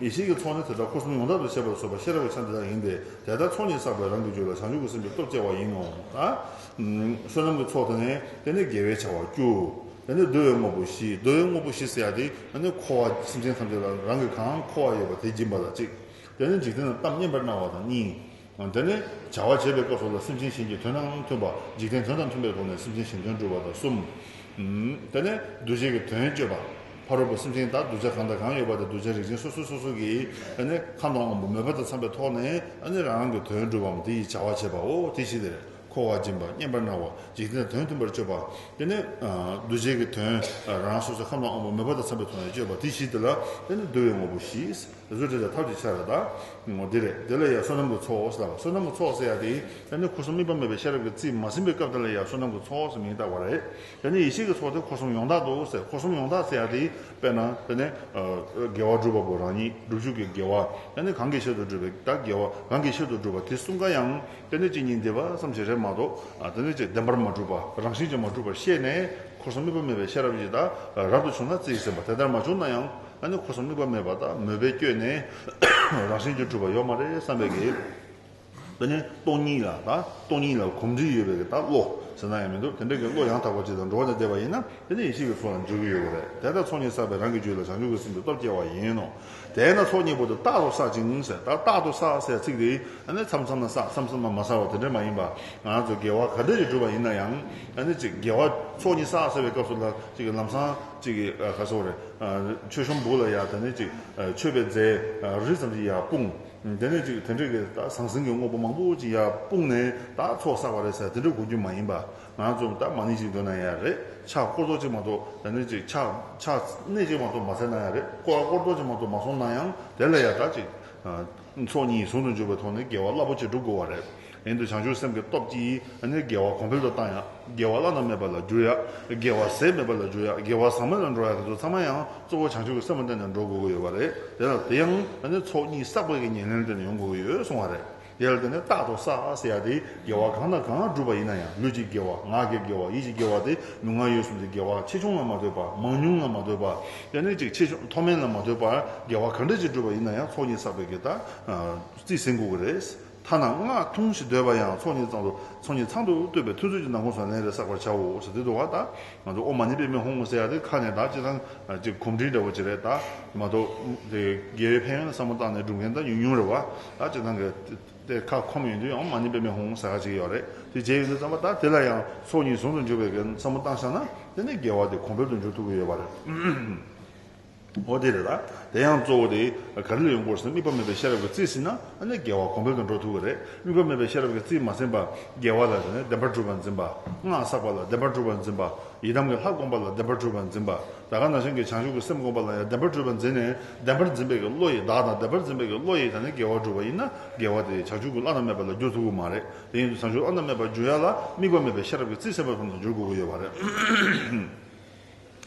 ཡེ་ཤེས་ཀྱི་ཚོགས་ནི་དེ་དག་འཁོར་གསུམ་ཡོངས་དག་ཏུ་ཤེས་པར་བཟོད་པ་ཤེས་རབ་ཀྱི་ཆ་འདི་དག་ཡིན་ཏེ་དེ་ལྟར་ཚོགས་གཉིས་བསགས་པས་རང་གི་རྒྱུད་ལ་བྱང་ཆུབ་ཀྱི་སེམས་ཀྱི་སྟོབས་སྐྱེ་བ་ཡིན་ནོ། བསོད་ནམས་ཀྱི་ཚོགས་དེ་ནི་དེ་ནི་དགེ་བའི་བྱ་བ་བཅུ། དེ་ནི་བསྡུ་བའི་དངོས་པོ་བཞི་བསྡུ་བའི་དངོས་པོ་བཞི་ཟེར་ཡང་དེ་ནི་འཁོར་བ་སེམས་ཅན་ཐམས་ཅད་ལ་རང་གི་གང་འཁོར་བ་ཡོད་པ་དེ་སྦྱིན་པ་ལ་གཅིག། དེ་ནི་འཇིག་རྟེན་ན་གཏམ་སྙན་པར་གནང་བ་དང་གཉིས། འདི་ནི་བྱ་བ་བྱེད་པའི་སྐབས་སུ་ལ་སེམས་ཅན་གཞན་གྱི་དོན་དང་མཐུན་པ། འཇིག་རྟེན་དོན་དང་མཐུན་པའི་སྒོ་ནས་སེམས་ཅན་གཞན་དོན་སྒྲུབ་པ་དང་གསུམ། འདི་ནི་གདུལ་བྱ་གི་དོན་སྤྱོད་པ། ཕ་རོལ་པོ་སེམས་ཅན་དག་གདུལ་བྱ་གང་དང་གང་ཡོད་པ་དེ་གདུལ་བྱ་རིགས་ཅན་སོ་སོ་སོ་སོ་ཀྱི་ཁམས་དང་དབང་པོ་མོས་པ་དང་འཚམ་པའི་ཐོག་ནས་རང་རང་གི་དོན་སྒྲུབ་བམ་དེ་ཡི་བྱ་བ་བྱེད་པའོ། དེ་བཞིན་དུ་འཁོར་བ་སྦྱིན་པ་སྙན་པར་སྣང་བ་འཇིག་རྟེན་དོན་མཐུན་པར་སྤྱོད་པ། འདི་ནི་གདུལ་བྱ་གི་དོན་རང་སོ་སོའི་ཁམས་དང་དབང་པོ་མོས་པ་དང་འཚམ་པའི་ཐོག་ནས་སྤྱོད་པ་དེ་བཞིན་དུ་ལ་འདི་ནི་བསྡུ་བའི་ངོ་བོ་བཞི། གཟུགས་དྲི་དང་ཐབས་ཀྱི་ཆ་ལ་དག། འདི་རེད། དེ་ལ་ཡང་བསོད་ནམས་ཀྱི་ཚོགས་ཟེར་བ། བསོད་ནམས་ཀྱི་ཚོགས་ཟེར་ཡང་དེ་ཡིན། དེ་ནི་འཁོར་གསུམ་དམིགས་པ་མེད་པའི་ཤེས་རབ་ཀྱི་རྩིས་མ་ཟིན་པའི་སྐབས་དེ་ལ་ཡང་བསོད་ནམས་ཀྱི་ཚོགས་ཟེར་མིང་བཏགས་པ་རེད། དེ་ནི་ཡེ་ཤེས་ཀྱི་ཚོགས་དེ་འཁོར་གསུམ་ཡོངས་དག་ཏུ་ཟེར། འཁོར་གསུམ་ཡོངས་དག་ཟེར་ཡང་དེ་ཡིན། དཔེར་ན། དཔེར་ན། དགེ་བ་བསྒྲུབ་པ་པོ་རང་ཉིད་སྒྲུབ་བྱེད་ཀྱི་དགེ་བ། དེ་ནི་གང་གི་ཆེད་དུ་བསྒྲུབ་པའི་དག་དགེ་བ། གང་གི་ཆེད་དུ་བསྒྲུབ་པ་དེ་གསུམ་ཀ་ཡང། དེ་ནི་གཅིག་ཉིད་འདི་བ་ཙམ་ཞིག་རེད་མ་གཏོགས། དེ་ནི་གཅིག་བདེན་པར་མ་གྲུབ་པ། རང་བཞིན་གྱིས་མ་གྲུབ་པར་ཤེས་ནས། འཁོར་གསུམ་དམིགས་པ་མེད་པའི་ཤེས་རབ་ཀྱིས་དག་རབ་ཏུ་བྱུང་ན་རྩིས་ཟིན་པ་དེ་ལྟར་མ་བྱུང་ན་ཡང། ཨ་ནི་ཁོ་སོང་དམིགས་པ་མེད་པར་དག་མོས་པས་བསྐྱོད་ནས། རང་བཞིན་གྱིས་གྲུབ་པ་ཡོད་མ་རེད་བསམ་པས་ཀྱི། དེ་ནས་སྟོང་ཉིད་ལ་དག་སྟོང་ཉིད་ལ་གོམས་འདྲིས་ཡོད་པས་ཀྱི་དག་བློ་ཟེར་ན་ཡང་མི་འདུག་དེ་འདྲའི་ཀྱི་བློ་ཡང་དག་པ་ཅིག་དང་འགྲོ་བ་ལས་འདས་པ་ཡིན་ན་དེ་ནི་ཡེ་ཤེས་ཀྱི་ཚོགས་ལ་འཇུག་གི་ཡོད་པ་རེད་དེ་ལྟར་ཚོགས་གཉིས་བསགས་པས་རང་གི་རྒྱུད་ལ་བྱང་ཆུབ་ཀྱི་སེམས་ཀྱི་སྟོབས་སྐྱེ་བ་ཡིན་ནོ། དེས་ན་ཚོགས་གཉིས་པོ་དེ་རྟག་ཏུ་བསགས་ཅིང་ཟེར་དག་རྟག་ཏུ་བསགས་ཟེར་ཚིག་དེ་ཨ་ནི་མཚམས་མཚམས་ན་བསགས་མཚམས་མཚམས་ན་མ་བསགས་པ་དེ་འདྲ་མ་ཡིན་པར་ང་རང་ཚོ་དགེ་བ་ག་འདྲ་ཞིག་བསྒྲུབས་པ་ཡིན་ན་ཡང་ཨ་ནི་གཅིག་དགེ་བ་ཚོགས་གཉིས་བསགས་ཟེར་བའི་སྐབས་སུ་ལ་གཅིག་གི་ལམ་སང། ཅིག་གིས་ཁ་གསོ་རེ། མཆོད་ཤོམ་འབུགས་ལ་ཡར་དེ་ནས་ཅིག། མཆོད་པའི་རྫས་རིལ་ཙམ་ཞིག་ཡར་སྤུངས། དེ་ནས་ཅིག་དེ་འདྲས་ཀྱི་ད་ཟང་ཟིང་གི་དངོས་པོ་མང་པོ་ཅིག་ཡར་སྤུངས་ནས་ད་ཚོགས་བསགས་པ་རེད་ཟེར་དེ་འདྲས་གོ་རྒྱུ་མ་ཡིན་པ། ང་ཚོས་ད་མ་ནི་ཅིག་འདོན་ན་ཡང་རེད་ཕྱག་སྐོར་ཚོགས་ཅིག་མ་གཏོགས་དེ་ནས་ཅིག་ཕྱག་ཕྱག་གནས་ཅིག་མ་གཏོགས་མ་ཟེར་ན་ཡང་རེད་སྐོར་སྐོར་ཚོགས་ཅིག་མ་གཏོགས་མ་སོང་ན་ཡང་དེ་ལ་ཡང་ད་ཅིག། ཚོགས་གཉིས་ཟུང་དུ་འཇུག་པའི་ཐོག་ནས་དགེ་བ་རླབས་པོ་ཆེ་སྒྲུབ་དགོས་བ་རེད། ཡང་དུ་བྱང་ཆུབ་སེམས་ཀྱི་སྟོབས་ཀྱིས་ནི་དགེ་བ་གོང་འཕེལ་དུ་བཏང་ཡང། དགེ་བ་བླ་ན་མེད་པ་ལ་འགྱུར་ཡ། དགེ་བ་ཟད་མེད་པ་ལ་འགྱུར་ཡ། དགེ་བ་ཟག་མེད་ལ་འགྲོ་ཡ་དེ་ཚོ་ཚང་མ་ཡང་གཙོ་བོ་བྱང་ཆུབ་ཀྱི་སེམས་སྟེང་ནས་འགྲོ་དགོས་ཀྱི་ཡོད་བ་རེད། དེ་དང་དེ་ཡང་ཚོགས་གཉིས་བསགས་པའི་ཉེར་ལེན་སྟེང་ནས་ཡོང་དགོས་ཀྱི་ཡོད་གསུངས་བ་རེད། དེ་ལ་བརྟེན་ནས་རྟག་ཏུ་བསགས་ཟེར་ཡ་དེ་དགེ་བ་གང་དང་གང་བསྒྲུབས་པ་ཡིན་ན་ཡང་ལུས་ཀྱི་དགེ་བ་ངག་གི་དགེ་བ་ཡིད་ཀྱི་དགེ་བ་སྟེ་ལུས་ངག་ཡིད་གསུམ་གྱི་དགེ་བ་ཆེ་ཆུང་ལ་མ་ལྟོས་པར་མང་ཉུང་ལ་མ་ལྟོས་པར་དཔེ་ནི་གཅིག་ཆེ་ཆུང་མཐོ་དམན་ལ་མ་ལྟོས་པར་དགེ་བ་གང་འབྲས་ཀྱིས་བསྒྲུབས་པ་ཡིན་ན་ཡང་ཚོགས་གཉིས་བསགས་པའི་དགེ་རྟགས་རྩིས་ཟིན་དགོས་ཀྱི་རེད། ཐ་ན་སྔགས་ཐུང་ཞིག་འདོད་པ་ཡང་ཚོགས་གཉིས་ཚང་དུ་ཚོགས་གཉིས་ཚང་དུ་བསྟོད་པའི་ཐུན་ཚོད་ཀྱི་ནང་ཁོངས་སུ་ལན་རེ་བསགས་པར་བྱའོ་ཞེས་བསྟན་འདུག་བ་ད་ང་ཚོ་ཨོ་མ་ནི་པའི་མེ་ཧོང་ངོ་ཟེར་ཡག་དེ་ཁ་ནས་དག་ཅིག་ལྷང་ཅིག་གོམ་འདྲིས་འདྲ་བོ་ཅིག་རེད་ད་མ་གཏོགས་དགེ་བའི་ཕན་ཡོན་ལ་བསམ་བློ་བཏང་ནས་བསྒྲུབ་མཁན་ད་ཉུང་ཉུང་རེད་བ་ད་ཅིག་ལྷང་གིས་དེ་ཁ་ཁོམ་ཡོང་དུས་ཡང་མ་ཉེས་པའི་མེ་ཧུང་ཧུང་ཟེར་ག་ཅིག་ཡོད་རེད་དེ་རྗེས་ཡོད་ཚད་ཙམ་པ་ད་དེ་ལ་ཡང་ཚོགས་གཉིས་ཟུང་དུ་འཇུག་པའི་གན་ཚ་མོ་བཏང་ཤག་ན་དེ་ནས་འགལ་བ་དེ་གོང་འཕེལ་དུ་འགྱུར་ཐུབ་ཀྱི་ཡོད་པ་རེད་འོ་དེ་རེད་ད་དེ་ཡང་གཙོ་བོ་དེ་ག་རེ་ལ་ཡོང་སྐོར་ཟིན་དམིགས་པ་མེད་པའི་ཤེས་རབ་ཀྱི་རྩིས་ཟིན་ན་དེ་ནས་འགལ་བ་གོང་འཕེལ་དུ་འགྲོ་ཐུབ་ཀྱི་རེད་དམིགས་པ་མེད་པའི་ཤེས་རབ་ཀྱི་རྩིས་མ་ཟིན་པ་འགལ་བ་ལ་ཟེར་ནས་བདེན་པར་གྲུབ་པར་འཛིན་པ་སྔགས་བསགས་པ་ལ་བདེན་པར་གྲུབ་པར་འཛིན་པ་ཡི་དམ་གྱི་ལྷ་བསྒོམ་པ་ལ་བདེན་པར་གྲུབ་པར་འཛིན་པ། ད་ག་ན་གཞན་གྱི་བྱང་ཆུབ་ཀྱི་སེམས་བསྒོམ་པ་ལ་ཡང་བདེན་པར་སྤྲོས་པ་འཛིན་ནས་བདེན་པར་འཛིན་པའི་ཀྱི་བློ་ཡིས་བདག་དང་བདེན་པར་འཛིན་པའི་ཀྱི་བློ་ཡིས་ད་ནི་འགལ་བར་སྒྲུབ་པ་ཡིན་ན་འགལ་བ་དེ་བྱང་ཆུབ་ཀྱི་བློ་རྣམ་མེད་པ་ལ་འགྱུར་ཐུབ་ཀྱི་མ་རེད་དེ་བཞིན་དུ་བྱང་ཆུབ་བློ་རྣམ་མེད་པར་འགྱུར་ཡ་ལ་དམིགས་པ་མེད་པའི་ཤེས་རབ་ཀྱི་རྩིས་སེམས་དཔའ་ཙམ་དུ་འགྱུར་དགོས་ཀྱི་ཡོད་པ་རེད།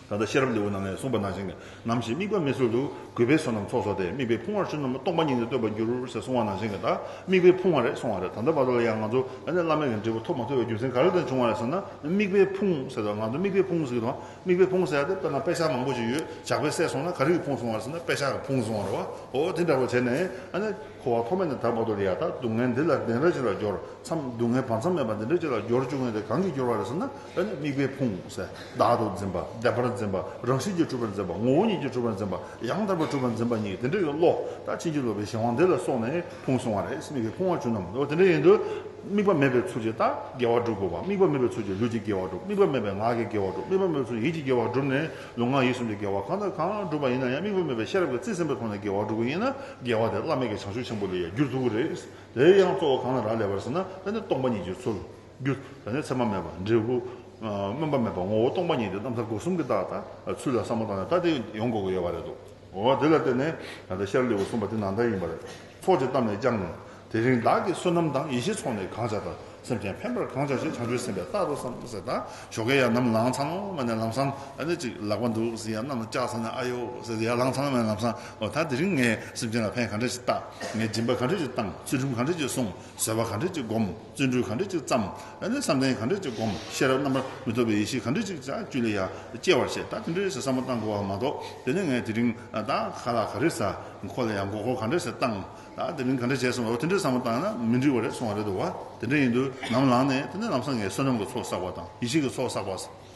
ད་ལྟ་ཤེས་རབ་ལེའུ་ནང་ནས་གསུངས་པ་ནང་བཞིན་གྱི་ནམ་ཞིག་དམིགས་པ་མེད་ཚུལ་དུ་གུས་པས་བསོད་ནམས་ཚོགས་སོགས་ཏེ་དམིགས་པའི་ཕུང་བར་ཆོས་རྣམས་སྟོང་པ་ཉིད་ནས་སྟོན་པར་འགྱུར་ཞེས་གསུངས་བ་ནང་བཞིན་གྱི་ད་དམིགས་པའི་ཕུང་བ་རེད་གསུངས་བ་རེད་ད་ལྟ་བར་དུ་ལ་ཡང་ང་ཚོ་ལ་ནི་བླ་མེད་ཀྱི་འབྲས་བུ་ཐོབ་མ་ཐུབ་པའི་རྒྱུ་མཚན་ག་རེ་དང་བྱུང་བ་རེད་ཟེར་ན་དམིགས་པའི་ཕུང་ཟེར་དང་ང་ཚོ་དམིགས་པའི་ཕུང་ཟེར་གྱི་དང་དམིགས་པའི་ཕུང་ཟད་དེ་དཔེར་ན་དཔེ་ཆ་མང་པོ་ཞིག་ཡོད་ཇག་པས་བསད་སོང་ན་ག་རེ་གི་ཕུང་སོང་བ་ཟེར་ན་དཔེ་ཆ་གི་ཕུང་སོང་བ་རེད་བ་ཧོ་དེ་འདྲ་བ་བྱས་ནས་ཨ་ནི་ཁོ་བ་ཐོག་མེད་ནས་ད་མ་གཏོགས་ལ་ཡ་ད་སྡུག་བསྔལ་འདི་ལ་དེ་འདྲ་ཅིག་ལ་སྦྱོར་མཚམས་སྡུག་བསྔལ་བར་མཚམས་མེད་པ་འདི་འདྲ་ཅིག་ལ་སྦྱོར་བཅུག་ངེས་དེ་གང་གིས་སྦྱོར་བ་རེད་ཟེར་ན་ཨ་ནི་དམིགས་པའི་ཕུང་ཟད་བདག་ཏུ་འཛིན་པ་བདེན་པར་འཛིན་པ་རང་བཞིན་གྱིས་གྲུབ་པར་འཛིན་པ་ངོ་བོ་ཉིད་ཀྱིས་གྲུབ་པར་འཛིན་པ་ཡང་དག་པར་གྲུབ་པར་འཛིན་པ་གཉིས་ཀྱི་དེ་འདྲ་ཡི་བློ་དང་ཕྱིན་ཅི་ལོག་པའི་གཞན་དབང་འདི་ལ་སོགས་ནས། ཕུང་སོང་བ་རེད་སེམས་ཀྱི་ཕུང་བ་བྱུང་ནམ་འོ་དེ་འདྲ་ཡིན་དུས། དམིགས་པ་མེད་པའི་ཚུལ་གྱིས་ལྟ་དགེ་བ་སྒྲུབ་དགོས་པ་དམིགས་པ་མེད་པའི་ཚུལ་གྱིས་ལུས་ཀྱི་དགེ་བ་སྒྲུབ་དམིགས་པ་མེད་པའི་ངག་གི་དགེ་བ་སྒྲུབ་དམིགས་པ་མེད་པའི་ཚུལ་གྱིས་ཡིད་ཀྱི་དགེ་བ་སྒྲུབ་ནས་ལུས་ངག་ཡིད་གསུམ་གྱི་དགེ་བ་གང་དང་གང་སྒྲུབ་པ་ཡིན་ན་ཡང་དམིགས་པ་མེད་པའི་ཤེས་རབ་ཀྱི་རྩིས་ཟིན་པའི་ཐོག་ནས་དགེ་བ་སྒྲུབ་དགོས་ཡིན་ན་དགེ་བ་དེ་བླ་མེད་ཀྱི་བྱང་ཆུབ་ཆེན་པོ་ལས་ཡལ་རྒྱུར་ཐུག་གི་རེད། དེའི་ཡང་གཙོ་བོ་གང་ལ་རག་ལས་པར་ཟེར་ན་ད་ནི་སྟོང་པ་ཉིད་ཀྱི་ཚུལ། རྒྱུ། ད་ནི་མཚན་མ་མེད་པ་འབྲས་བུ། སྨོན་པ་མེད་པ་ངོ་བོ་སྟོང་པ་ཉིད་དེ་རྣམ་ཐར་སྒོ་གསུམ་གྱི་བརྟག་ཐག་ཚུལ་ལ་བསམ་བློ་བཏང་ནས་ལྟ་དེ་ཡོང་དགོས་ཀྱི་ཡོད་པ་རེད་དོ། འོ་དེ་ལ་བརྟེན་ནས་ད་ལྟ་ཤར་ལེའུ་གསུངས་པ་དེ་ནང་ལྟར་ཡིན་པ་རེད། ཚོགས་ཀྱི་གཏམ་ནས་ཀྱང་ནི། དེ་རིང་བདག་གིས་བསོད་ནམས་དང་ཡེ་ཤེས་ཚོགས་ནས་གང་བྱ་དང་སེམས་ཅན་ཕན་པར་གང་བྱ་ཞེས་བྱང་ཆུབ་སེམས་དཔའི་རྟགས་རོ་བསམ་གསལ་དང་ཞོ་གས་ཡར་ནམ་ལངས་ཚང་མ་ནས་ལམ་སང་ཨ་ནི་ཅིག་ལག་པ་འདུག་ཟིན་ཡར་ནམ་ལྕགས་ཚང་ནས་ཨ་ཡོ་ཟེར་ཏེ་ཡར་ལངས་ཚང་མས་ལམ་སང་འོ་ད་དེ་རིང་ངས་སེམས་ཅན་ལ་ཕན་ག་འདྲ་ཞིག་བཏགས། ངས་སྦྱིན་པ་ག་འདྲ་ཞིག་བཏང་ཚུལ་ཁྲིམས་ག་འདྲ་ཞིག་སྲུང་བཟོད་པ་ག་འདྲ་ཞིག་བསྒོམ། བརྩོན་འགྲུས་གང་འདྲ་ཅིག་བརྩམ། བསམ་གཏན་གང་འདྲ་ཅིག་བསྒོམ། ཤེས་རབ་རྣམ་པར་མི་རྟོག་པའི་ཡེ་ཤེས་གང་འདྲ་ཅིག་ཅག་བཅུད་ལས་ཡར་སྐྱེ་བར་བྱེད། ད་དེ་འདྲའི་བསམ་བློ་བཏང་དགོས་པ་མ་གཏོགས་དེ་ནས་ངས་དེ་རིང་ད་ག་ལ་ག་རེ་ཟ། ཁོ་ལ་ཡང་མགོ་སྐོར་གང་འདྲ་ཞིག་བཏང། ད་དེ་རིང་ག་འདྲ་བྱས་སོང་བས་དེ་འདྲའི་བསམ་བློ་བཏང་ན་མི་འགྲིག་པ་རེད་གསུང་བ་རེད་འདུག་བ། དེ་འདྲ་ཡིན་དུས་ནམ་ལངས་ནས་དེ་ནས་ལམ་སང་ངས་བསོད་ནམས་ཀྱི་ཚོགས་བསགས་པ་དང་ཡེ་ཤེས་ཀྱི་ཚོགས་བསགས་པ།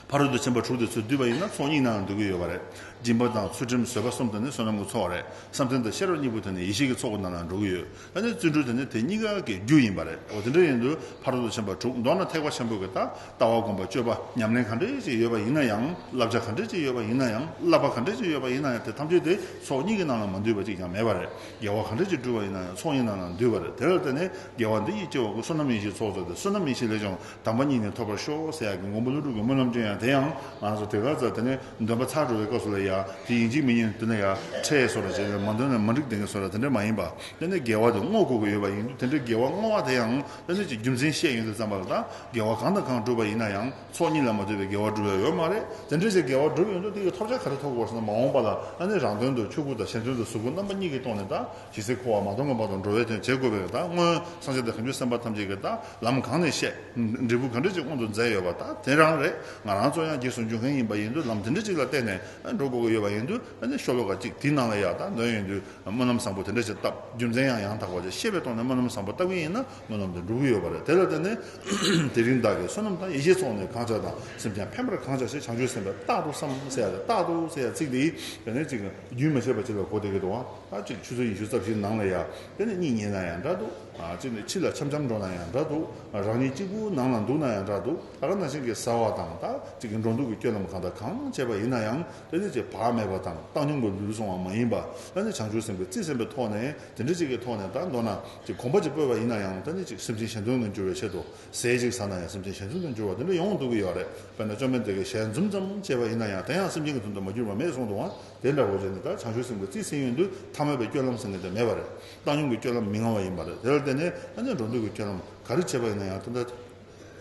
ཕ་རོལ་ཏུ་ཕྱིན་པ་དྲུག་དེ་ཚོས་བསྡུས་པ་ཡིན་ན་ཚོགས་གཉིས་ནའང་འདུས་ཀྱི་ཡོད་པ་རེད། སྦྱིན་པ་དང་ཚུལ་ཁྲིམས་བཟོད་པ་གསུམ་དེ་ནི་བསོད་ནམས་ཀྱི་ཚོགས་རེད་བསམ་གཏན་དང་ཤེས་རབ་གཉིས་པོ་དེ་ནི་ཡེ་ཤེས་ཀྱི་ཚོགས་ཀྱི་ནང་ན་འགྲོ་གི་ཡོད། ད་ནི་བརྩོན་འགྲུས་དེ་ནི་དེ་གཉིས་ཀ་གི་རྒྱུ་ཡིན་པ་རེད། འོ་དེ་འདྲ་ཡིན་དུས་ཕ་རོལ་ཏུ་ཕྱིན་པ་དྲུག་མདོར་ན་ཐེག་པ་ཆེན་པོ་གི་ད་ལྟ་བ་སྒོམ་པ་སྤྱོད་པ་ཉམས་ལེན་ག་འདྲའི་ཅིག་ཡོད་པ་ཡིན་ན་ཡང་བསླབ་བྱ་ག་འདྲའི་ཅིག་ཡོད་པ་ཡིན་ན་ཡང་བསླབ་པ་ག་འདྲའི་ཅིག་ཡོད་པ་ཡིན་ན་ཡང་དེ་ཐམས་ཅད་དེ་ཚོགས་གཉིས་ཀྱི་ནང་ན་མ་འདུས་པ་ཅིག་ཀྱང་མེད་པ་རེད། དགེ་བ་ག་འདྲ་ཅིག་བསྒྲུབས་པ་ཡིན་ན་ཡང་ཚོགས་གཉིས་ནང་ན་འདུས་པ་རེད་དེར་བརྟེན་ནས་དགེ་བ་འདི་ཡིས་སྐྱེ་བ་ཀུན་བསོད་ནམས་ཡེ་ཤེས་ཚོགས་རྫོགས་ཏེ་བསོད་ནམས་ཡེ་ཤེས་ལས་ཀྱང་དམ་པ་ཉིད་ནས་ཐོབ་པར་ཤོག་ཟེར་ཡག་གི་མགོན་པོ་ཀླུ་སྒྲུབ་ཀྱི་སྨོན་ལམ་སྤྲོད་ཡང་དེ་ཡང་ང་རང་ཚོ་དེ་གར་བཙལ་དེ་ནས་འདོན་པ་ཚར་འགྲོ་བའི་སྐབས་སུ་ལ་ཡ་དེ་ཡིན་གཅིག་མིན་གཉིས་འདོན་ན་ཡ་ཁྲེས་སོ་ར་བྱས་ནས་མ་འདོན་ན་མ་འགྲིག་དེ་འགས་སོ་ར་དེ་འདྲ་མ་ཡིན་པ་ལྟོས་ནས་འགལ་བ་དེ་བསྔོག་དགོས་ཀྱི་ཡོད་པ་ཡིན་དུས་དེ་འདྲའི་འགལ་བ་བསྔོག་བ་དེ་ཡང་ལྟོས་ནས་ཀྱི་རྒྱུ་མཚན་བཤད་ཡོང་དུས་བརྩམས་པ་ལ་ད་འགལ་བ་གང་དང་གང་གྲུབ་པ་ཡིན་ན་ཡང་ཚོགས་གཉིས་ལ་མ་ལྟོས་པའི་འགལ་བ་གྲུབ་ཡ་ཡོད་མ་རེད་དེ་འདྲའི་ཆེད་འགལ་བ་གྲུབ་ཡོང་དུས་དེ་ཡི་ཐོབ་བྱ་ག་རེ་ཐོབ་དགོས་པ་སོགས་ན་མ་འོངས་པ་ལ་ལྟོས་ནས་རང་དོན་དུ་ཁྱོད་ཀུན་དང་གཞན་དོན་དུ་གཟུགས་སྐུ་རྣམ་པ་གཉིས་ཀྱིས་སྟོང་ནས་ད་ཇི་སྲིད་འཁོར་བ་མ་སྟོངས་གོམས་པ་དང་འགྲོ་བའི་དོན་བྱེད་དགོས་པས་དག་སྔོན་སངས་རྒྱས་ཏེ་གང་ཆོས་སེམས་དཔའ་ཐམས་ཅད་ཀྱིས་དག་ལམ་གང་ནས་བཤད། འབྲས་བུ་གང་འབྲས་གཅིག་དབང་དུ་མཛད་ཡོད་པ་དག་དེ་རང་རེད་ང་རང་ཚོ་ཡང་རྗེས་སུ་འཇུག་མཁན་ཡིན་པ་ཡིན་དུས་ལམ་དེ་འདྲ་གཅིག་ལ་བརྟེན་ནས་འགྲོ་དགོས་ཀྱི་ཡོད་པ་ཡིན་དུས་ནི་ཤོ་ལོ་ཀ་གཅིག་དེའི་ནང་ལ་ཡང་དག་འདོན་ཡོད་དུས་སྨོན་ལམ་བཟང་པོ་དེ་འདྲ་ཞིག་བཏབ་རྒྱུ་མཚན་ཡང་ཡང་དག་པ་ཅིག་ཤེས་པའི་ཐོག་ནས་སྨོན་ལམ་བཟང་པོ་བཏབ་མཁན་ཡིན་ན་སྨོན་ལམ་དེ་འགྲུབ་ཀྱི་ཡོད་པ་རེད་དེ་ལ་བརྟེན་ནས་དེ་རིང་བདག་གིས་བསོད་ནམས་དང་ཡེ་ཤེས་ཚོགས་ནས་གང་བྱ་དང་སེམས་ཀྱང་ཕན་པར་གང་བྱ་ཞེས་བྱང་ཆུབ་སེམས་དཔས་རྟག་ཏུ་བསམ་བསལ་ཡ་རེད་རྟག་ཏུ་ཟེར་ཡ་ཚིག་འདིའི་དོན་ནི་གཅིག་རྒྱུན་མི་ཆད་པར་བྱེད་པའི་གོ་བདེ་གི་དོ། ཨ་གཅིག་ཆུ་ཚོད་ཉི་ཤུ་རྩ་བཞིའི་ནང་ལ་ཡ། དེ་ནི་གཉིད་ཉལ་ན་ཡང་འདྲ་འདུག། ཨ་གཅིག་ནི་ཕྱི་ལ་འཆམ་འཆམ་འགྲོ་ན་ཡང་འདྲ་འདུག། ཨ་རང་ཉིད་གཅིག་པུའི་ནང་ལ་འདུག་ན་ཡང་འདྲ་འདུག། ཨ་ག་ན་ཤིང་གིས་ཟ་བ་དང་ད་གཅིག་གི་འགྲོ་འདུག་གི་སྐྱོ་ལམ་གང་དང་གང་བྱས་པ་ཡིན་ན་ཡང་དེ་ནི་ཆེས་བག་མེད་པ་དང་བཏང་སྙོམས་ཀྱི་ལུས་ཟུངས་བ་མ་ཡིན་པ། ད་ནི་བྱང་ཆུབ་སེམས་དཔའི་རྩིས་སེམས་པའི་ཐོག་ནས་དེ་འདྲ་གཅིག་གི་ཐོག་ནས་ད་མདོར་ན་གཅིག་གོམ་པ་གཅིག་སྤོས་པ་ཡིན་ན་ཡང་ད་ནི་གཅིག་སེམས་ཅན་གཞན་དོན་ནུས་འགྱུར་བའི་ཆེད་དུ་ཟས་གཅིག་ཟ་ན་ཡང་སེམས་ཅན་ཞལ་འཛུམ་དུ་འགྱུར་བ་དེ་འདྲ་ཡོང་འདུག་གི་ཡོད་རེད་དཔེར་ན་བཅོམ་ལྡན་འདས་ཀྱིས་ཞལ་འཛུམ་ཙམ་བཅད་པ་ཡིན་ན་ཡང་དེ་ཡང་སེམས་ཅན་གྱི་འཛུམ་དུ་མ་གྱུར་བ་མེད་གསུངས་འདུག་ཨང་དེ་འདྲ་བོ་བྱས་ནས་ད་བྱང་ཆུབ་སེམས་ཀྱི་རྩིས་ཟིན་ཡོད་དུས་ཐ་མལ་པའི་སྐྱོན་ལམ་ཟིན་གི་དོན་མེད་པ་རེད་བཏང་སྙོམས་ཀྱི་སྐྱོན་ལམ་མི་མངའ་བ་ཡིན་པ་རེད་དེ་ལ་བརྟེན་ནས་ཨ་ནེ་འགྲོ་འདུག་གི་སྐྱོན་ལམ་ག་རེ་བྱས་པ་ཡིན་ན་ཡང་དེ་འདྲ་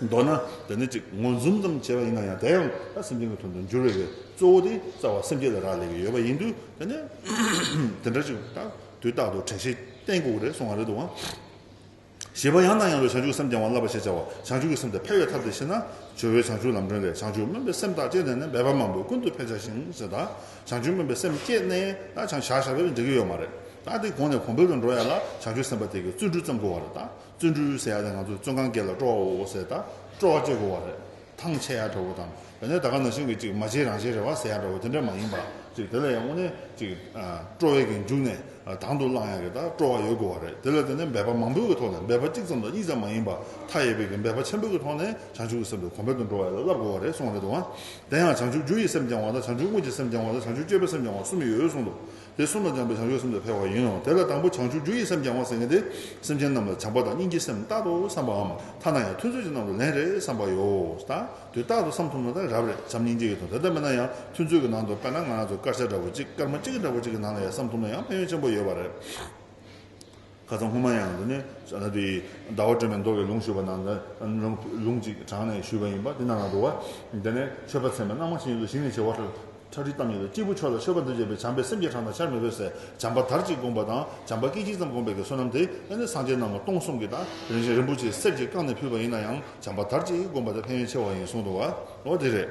མདོར་ན་དེ་ནི་གཅིག་ངོ་འཛུམ་ཙམ་བྱས་པ་ཡིན་ན་ཡང་དེ་ཡང་ད་སེམས་ཅན་གྱི་དོན་དུ་འགྱུར་བས་གཙོ་བོ་དེ་རྩ་བ་སེམས་ཅན་ལ་རག་ལས་ཀྱི་ཡོད་པ་ཡིན་དུས་དེ་ནི་དེ་འདྲ་གཅིག་དང་དུས་རྟག་ཏུ་དྲན་ཤེས་གཏན་འགོག་རེད་གསུངས་བ་རེད་འདུག་ཨང། ཞེས་པ་ཡང་དང་ཡང་བའི་བྱང་ཆུབ་སེམས་བསྐྱང་བ་བསླབ་པ་ཞེས་བྱ་བ་བྱང་ཆུབ་ཀྱི་སེམས་དེ་འཕེལ་བའི་ཐབས་དེ་ཤེས་ན། ཇོ་བོའི་བྱང་ཆུབ་ལམ་སྒྲོན་ལས་བྱང་ཆུབ་སྨོན་པའི་སེམས་དག་བསྐྱེད་ནས་ནི་འབད་པ་མང་པོས་ཀུན་ཏུ་འཕེལ་བྱ་ཞིང་ཞེས་དང། བྱང་ཆུབ་སྨོན་པའི་སེམས་བསྐྱེད་ནས་ད་བྱང་བྱ་བྱ་བས་འགྲིག་གི་ཡོད་མ་རེད་ད། དེ་གོང་ནས་གོང་འཕེལ་དུ་འགྲོ་ཡ་ལ་བྱང་ཆུབ་སེམས་དཔའ་དེ་གའི་བརྩོན་འགྲུས་བརྩམ་དགོས་བ་རེད་ད། བརྩོན་འགྲུས་ཟེར་ཡ་དེ་ང་ཚོས་བརྩོན་གང་དགེ་ལ་སྤྲོ་བའོ་ཟེར་ད་སྤྲོ་བ་བསྐྱེད་དགོས་བ་རེད། ཐང་ཆད་ཡ་འདྲ་བོ་དང། དེ་ནས་ད་ག་ན་ཞིང་གི་ཅིག་མ་བྱེད་རང་བྱེད་རེ་བ་ཟེར་ཡ་འདྲ་བོ་དེ་འདྲ་མ་ཡིན་པ་ཅིག་དེ་ལ་ཡང་དངོས་གནས་ཅིག་སྤྲོ་བས་ཀྱི་མཇུག་ནས་དང་དུ་བླངས་ཡ་གི་ད་སྤྲོ་བ་ཡོད་དགོས་བ་རེད་དེ་ལ་དེ་ནས་འབད་པ་མང་པོའི་གི་ཐོག་ནས་འབད་པ་གཅིག་ཙམ་དང་གཉིས་ཙམ་མ་ཡིན་པ་མཐའ་ཡས་པའི་གི་འབད་པ་ཆེན་པོའི་གི་ཐོག་ནས་བྱང་ཆུབ་ཀྱི་སེམས་དེ་གོང་འཕེལ་དུ་འགྲོ་བ་ཡོད་ལ་བསླབ་དགོས་བ་རེད་གསུངས་བ་རེད་འདུག་བ། དེ་ཡང་བྱང་ཆུབ་རྒྱུ་ཡི་སེམས་བསྐྱང་བ་དང་བྱང་ཆུབ་དངོས་ཀྱི་སེམས་བསྐྱང་བ་དང་བྱང་ཆུབ་སྤྱོད་པའི་སེམས་བསྐྱང་བ་གསུམ་ཡོད་གསུངས་འདུག་དེ་གསུམ་ལ་སྦྱངས་པའི་བྱང་ཆུབ་སེམས་དེ་འཕེལ་བ་ཡིན་ནོ། དེ་ལ་དང་པོ་བྱང་ཆུབ་རྒྱུ་ཡི་སེམས་སྦྱང་བ་ཟེར་མཁན་དེ་སེམས་ཅན་རྣམས་ལ་བྱམས་པ་དང་སྙིང་རྗེའི་སེམས་རྟག་ཏུ་བསམ་པའམ་ཐ་ན་ཡང་ཐུན་ཚོད་ཀྱི་ནང་དུ་ལན་རེ་བསམ་པ་ཡོད། དུས་རྟག་ཏུ་བསམ་ཐུབ་ན་ད་རབ་རེ་བྱམས་སྙིང་རྗེ་ཡོད་དོ། དེ་ལྟ་མིན་ན་ཡང་ཐུན་ཚོད་ཀྱི་ནང་དུ་དཔེར་ན་ང་ཚོ་དཀར་ཆ་འདྲ་བོ་གཅིག་དཀར་མོ་གཅིག་འདྲ་བོ་གཅིག་གི་ནང་ལ་ཡང་བསམ་ཐུབ་ན་ཡང་ཕན་ཡོན་ཆེན་པོ་ཡོད་པ་རེད། ཁ་སང་སྔོན་མ་ཡང་དེ་ནས་དེ་ཟླ་བ་སྒྲོན་མེ་མདོ་བའི་ལུང་ཞུས་པ་ནང་དུ་ལུང་གཅིག་དྲངས་ནས་ཞུས་པ་ཡིན་པ་དེ་ནང་ན་འདུག་བ། དེ་ནས་ཆོས་པ་ཚད་མེད་རྣམ་མང་ཆེན་ཡོད་དོ་ཞིང་ནས་བྱེ་བ་ཁྲག་ཁྲིག་གཏམས་ཡོད་དོ་སྐྱེས་བུ་མཆོག་ལ་མཆོད་པ་འདི་བྱས་པས་བྱམས་པས་སེམས་བསྐྱེད་གྲངས་དང་ཆར་མི་ཕོད་སའི་བྱམས་པ་དར་ཅིག་བསྒོམ་པ་དང་བྱམས་པ་སྐད་ཅིག་ཙམ་བསྒོམ་པའི་གེ་སོ་རྣམས་དེ་ནས་སངས་རྒྱས་རྣམས་ལ་སྟོང་གསུམ་གྱི་དང་རིན་ཆེན་རིན་པོ་ཆེའི་གསེར་གྱིས་བཀང་ནས་ཕུལ་བ་ཡིན་ན་ཡང་བྱམས་པ་དར་ཅིག་བསྒོམ་པ་དེ་ཕན་ཡོན་ཆེ་བ་ཡིན་གསུངས་འདུག་བ། འོ་དེ་རེད།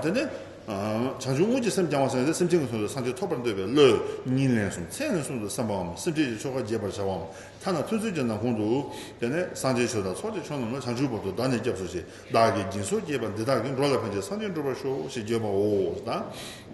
དེ་ནས་བྱང་ཆུབ་དངོས་ཀྱི་སེམས་བསྐྱང་བ་སེམས་ཅན་གྱི་ཚོགས་ཀྱི་སངས་རྒྱས་ཐོབ་པར་འདོད་པས་བློས་ཉིན་ལན་གསུམ་ཚེ་ལན་གསུམ་དུ་བསམ་པའམ་སེམས་ཅན་གྱི་ཆོ་ག་རྒྱས་པར་བྱ་བའམ་ཐ་ན་ཐུན་ཚོད་ཀྱི་ནང་ཁོང་དུ། དེ་ནས་སངས་རྒྱས་ཆོས་དང་ཚོགས་ཀྱི་མཆོག་རྣམས་ལ་བྱང་ཆུབ་བར་དུ་བདག་ནི་སྐྱབས་སུ་མཆི། བདག་གིས་སྦྱིན་སོགས་བསྐྱེད་པ་འདི་དག་གིས་འགྲོ་ལ་ཕན་ཅིང་སངས་རྒྱས་འགྲུབ་པར་ཤོག་ཞེས་བརྗོད་པའོ། དང།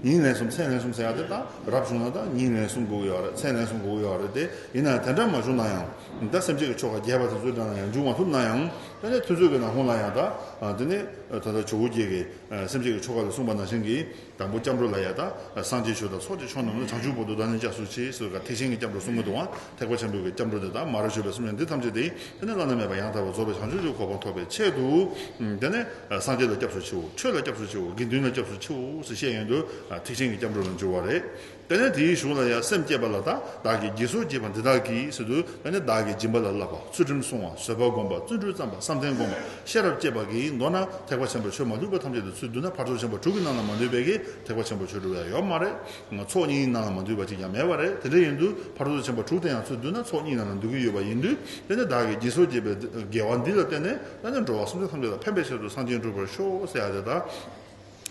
ཉིན་ལན་གསུམ་ཚེ་ལན་གསུམ་ཟེར་ཡག་དེ་དང་རབ་བྱུང་ན་དང་ཉིན་ལན་གསུམ་དགུག་ཡག་རེད་ཚེ་ལན་གསུམ་དགུག་ཡག་རེད་དེ་ཡིན་ནའང་དེ་འདྲ་མ་བྱུང་ན་ཡང། ད་སེམས་ཅན་གྱི་ཆོ་ག་རྒྱས་པ་དེ་ཚོའི་འདྲ་ན་ཡང་འབྱུང་མ་ཐུབ་ན་ཡང། དེ་ནས་ཐུན་ཚོད་ཀྱི་ནང་ཁོང་ལ་ཡང་དང། དེ་ནས། ད་ལྟ་ཇོ་བོ་རྒྱལ་གྱི་སེམས་བསྐྱེད་ཀྱི་ཆོ་ག་ལ་གསུངས་པ་ནང་བཞིན་གྱི་དང་པོ་སྐྱབས་འགྲོ་ལ་ཡང་དག་སངས་རྒྱས་ཆོས་དང་ཚོགས་ཀྱི་མཆོག་རྣམས་ལ་བྱང་ཆུབ་བོ་དོ་དང་ནི་ལྕགས་སུ་ཆེ་སོགས་ཀྱི་ཐེག་ཆེན་གྱི་སྐྱབས་འགྲོ་གསུམ་གྱི་དུ་བ་ཐེག་པ་ཆེན་པོའི་སྐྱབས་འགྲོ་དེ་དག་མ་རབས་བྱོས་པའི་གསུམ་ཡང་འདི་ཐམས་ཅད་དེ་དེ་ནི་བླ་ན་མེད་པ་ཡང་དག་པར་རྫོགས་པའི་བྱང་ཆུབ་ཀྱི་གོ་འཕང་ཐོབ་པའི་ཆེད་དུ། དེ་ནི་སངས་རྒྱས་ལ་སྐྱབས་སུ་མཆིའོ་ཆོས་ལ་སྐྱབས་སུ་མཆིའོ་དགེ་འདུན་ལ་སྐྱབས་སུ་མཆིའོ་ཞེས་བཤད་ཡོན་དུ་ཐེག་ཆེན་གྱི་སྐྱབས་འགྲོ་ལ་འགྱུར་བ་རེད། དེ་ནས་དེའི་གཞུང་ལ་ཡང་སེམས་བསྐྱེད་པ་ལ་དང་བདག་གིས་དགྱེས་གསོལ་བགྱིས་པ་འདི་དག་གིས་སུ་དུ་དེ་ནས་བདག་གིས་སྦྱིན་པ་ལ་བསླབ་པ་ཚུལ་ཁྲིམས་བསྲུང་བ་བཟོད་པ་བསྒོམ་པ་བརྩོན་འགྲུས་བརྩམས་པ་བསམ་གཏན་བསྒོམ་པ་ཤེས་རབ་བསྐྱེད་པ་གྱིས་མདོར་ན་ཐེག་པ་ཆེན་པོ་ཆོས་མ་ལུས་པ་ཐམས་ཅད་དུ་ཚུལ་བསྡུ་ན་ཕར་ཚོགས་ཆེན་པོ་དྲུག་གི་ནང་ལ་མ་འདུས་པའི་གིས་ཐེག་པ་ཆེན་པོ་ཆོས་དྲུག་ཡང་ཡོད་མ་རེད། ཚོགས་གཉིས་ནང་ལ་མ་འདུས་པ་གཅིག་ཀྱང་མེད་པ་རེད་དེ་འདྲ་ཡིན་དུས་ཕར་ཚོགས་ཆེན་པོ་དྲུག་དེ་ཡང་ཚུལ་བསྡུ་ན་ཚོགས་གཉིས་ནང་ལ་འདུས་ཀྱི་ཡོད་པ་ཡིན་དུས་དེ་ནས་བདག་གིས་དགྱེས་གསོལ་བགྱིས་པའི་དགེ་བ་འདི་ལ་བརྟེན་ནས་ད་ནས་འགྲོ་བ་སུམ་ཅུ་ཐམས་ཅད་ལ་ཕན་པའི་ཕྱིར་དུ་གསང་ཆེན་བསྒྲུབ་པར་ཤོག་ཟེར་ཡ་དེ་དག།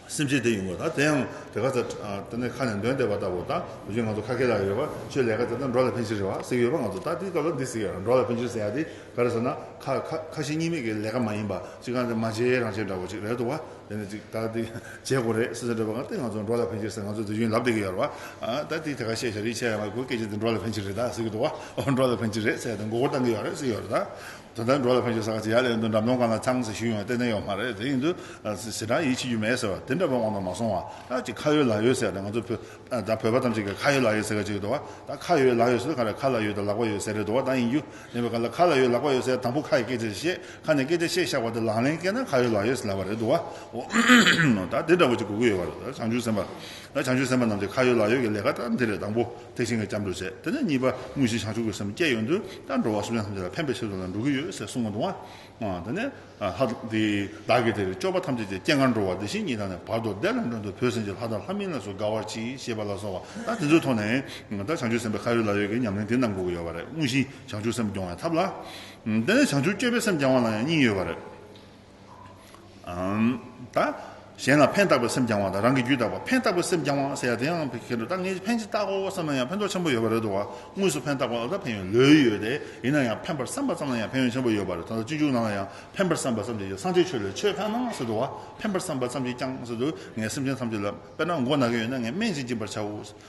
སེམས་ཅན་དེ་ཡིན་ནོ། དེ་ཡང་དེ་ག་ཚོད་དེ་ནས་ཁ་ནས་འདོན་བསྡད་པ་ལྟ་བུ་དང་དེ་བཞིན་ང་ཚོ་ཁ་སྐད་ལ་ཡོད་པ་ཆོས་ལས་ཀ་དེ་དག་འགྲོ་ལ་ཕན་ཕྱིར་རེད་བ་ཟེར་གྱི་ཡོད་པ་ང་ཚོ་ད་དེའི་སྐབས་ལ་འདི་ཟེར་གྱི་ཡོད་རེད་འགྲོ་ལ་ཕན་ཕྱིར་ཟེར་ཡ་དེ་ག་རེད་ཟེར་ན་ཁ་ཁ་ཞེ་གཉིས་མེད་ཀྱི་ལས་ཀ་མ་ཡིན་པ་ཅིག་ག་ནས་མ་བྱས་རང་བྱས་འདྲ་བོ་ཅིག་རེད་འདུག་བ་དེ་ནས་ཅིག་ད་དེ་བྱེད་དགོས་རེད་ཟེར་འདྲ་བ་ག་དེ་ང་ཚོ་འགྲོ་ལ་ཕན་ཕྱིར་ཟེར་ང་ཚོ་དེ་བཞིན་ལབ་བསྡད་ཀྱི་ཡོད་རེད་བ་ད་དེ་དེ་ག་བཤད་བྱ་རིག་བྱེད་ཡ་མ་གོ་སྐད་ཅིག་དེ་འགྲོ་ལ་ཕན་ཕྱིར་རེད་ཟེར་གྱི་འདུག་བ་འགྲོ་ལ་ཕན་ཕྱིར་རེད་ཟེར་ཡ་དེ་མགོ་སྐོར་བཏང་གི་ཡོད་རེད་ཟེར་གྱི་ཡོད་རེད་དོན་དག་འགྲོ་ལ་ཕན་ཆོད་ཟེར་ག་ཚད་ཡག་ལས་འདུག་འགྲམ་སྟོང་གང་ལ་ཚང་ཟེར་ཞུ་ཡོང་བའི་ལྟས་ཚན་ཡོག་མ་རེད་དེ་ཡིན་དུས་ཟེར་གྲངས་ཡིད་ཆེས་རྒྱུ་མེད་ཟེར་བ་དེ་འདྲ་བ་དབང་དུ་མ་སོང་བ་ད་ཅི་ཁ་ཡོད་ལག་ཡོད་ཟེར་ནས་ང་ཚོ་བོད་བོད་པ་ཐམས་ཅད་ཀྱི་ཁ་ཡོད་ལག་ཡོད་ཟེར་ག་ཅིག་རེད་འདུག་བ་ད་ཁ་ཡོད་ལག་ཡོད་ཟེར་དུས་ཁ་རེ་ཁ་ལ་ཡོད་དང་ལག་པ་ཡོད་ཟེར་རེད་འདུག་བ་ད་ཡིན་རྒྱུ་མེད་པའི་ཁ་ལ་ཁ་ལ་ཡོད་ལག་པ་ཡོད་ཟེར་དང་པོ་ཁ་ཡི་སྐད་ཆ་རེ་བཤད་ཁ་ནས་སྐད་ཆ་བཤད་བཞག་པ་དེ་ལག་ལེན་བཀལ་ན་ཁ་ཡོད་ལག་ཡོད་ཟེར་ལབ་པ་རེད་འདུག་བ་ད་དེ་འདྲ་བ་ཅིག་དགོས་ཀྱི་ཡོད་བ་རེད་བྱང་ཆུབ་སེམས་དཔའ་བྱང་ཆུབ་སེམས་དཔའ་རྣམས་ཀྱི་ཁ་ཡོད་ལག་ཡོད་ཀྱི་ལས་ཀ་ད་འདི་རེད་དང་པོ། ཐེག་ཆེན་གྱི་སྐྱབས་འགྲོ་བྱེད་དེ་ནས་གཉིས་པ་དངོས་གཞི་བྱང་ཆུབ་ཀྱི་སེམས་བསྐྱེད་ཡོད་དུས་ཀྱང་འགྲོ་བ་གསུམ་ཡང་ཐམས་ཅད་ལ་ཕན་པའི་ཕྱིར་དུ་ལ་འགྲོ་གི་ཡོད་ཅེས་གསུངས་པ་དང། དེ་ནས། བདག་གིས་དེར་སྤྱོད་པ་ཐམས་ཅད་ཀྱི་སྐྱེ་སྔར་འགྲོ་བ་འདི་བཞིན་ཉིད་དང་ནི་བར་དོར་བདེ་ལ་འགྲོ་འདོད་བུ་སེམས་ཀྱི་ལྷ་དང་ལྷ་མིན་ལ་སོགས་དགའ་བར་གྱིས་ཞེས་པ་ལ་སོགས་པ་དང་དེ་ཚུལ་མཐོང་ནས། བདག་བྱང་ཆུབ་སེམས་དཔའི་ཁ་ཡོད་ལག་ཡོད་ཀྱི་ཉམས་ལེན་དེ་རྣམས་འགོག་གི་ཡོད་པ་རེད་དངོས་གཞི་བྱང་ཆུབ་སེམས་སྐྱོང་བའི་ཐབས་ལ། དེ་ནས་བྱང་ཆུབ་སྤྱོད་པའི་སེམས་བསྐྱང་བ་ལ་ཡང་སྙིང་ཡོད་པ་རེད། གཞན་ལ་ཕན་བཏགས་པའི་སེམས་བསྐྱང་བ་དང་རང་གི་རྒྱུད་དག་པར་ཕན་བཏགས་པའི་སེམས་བསྐྱང་བ་ཟེར་ཡ་དེ་ཡང་ཕན་གྱི་འདུག་ད་ངས་ཕན་ཅིག་བཏག་གོ་བསམ་ན་ཡང་ཕན་ཐོགས་ཆེན་པོ་ཡོད་པ་རེད་འདུག་དངོས་སུ་ཕན་བཏགས་པ་ལ་ད་ཕན་ཡོད་ལོས་ཡོད་དེ་ཡིན་ན་ཡང་ཕན་པར་བསམ་པ་ཙམ་ལ་ཡང་ཕན་ཡོད་ཆེན་པོ་ཡོད་པ་རེད་ད་ལྟ་སྤྱི་འབྱུང་ནང་ལ་ཡང་ཕན་པར་བསམ་པ་ཙམ་གྱིས་ཀྱང་སངས་རྒྱས་ཆོས་ལས་ཆོས་ཕན་ནོ་ཟེར་འདུག་ཕན་པར་བསམ་པ་ཙམ་གྱིས་ཀྱང་ཟེར་འདུག་ངའི་སེམས་ཅན་ཐམས་ཅད་ལ་དཔེར་ན་མགོ་ན་གན་ཡོད་ན་ངས་སྨན་ཅིག་སྦྱིན་པར་བྱའོ།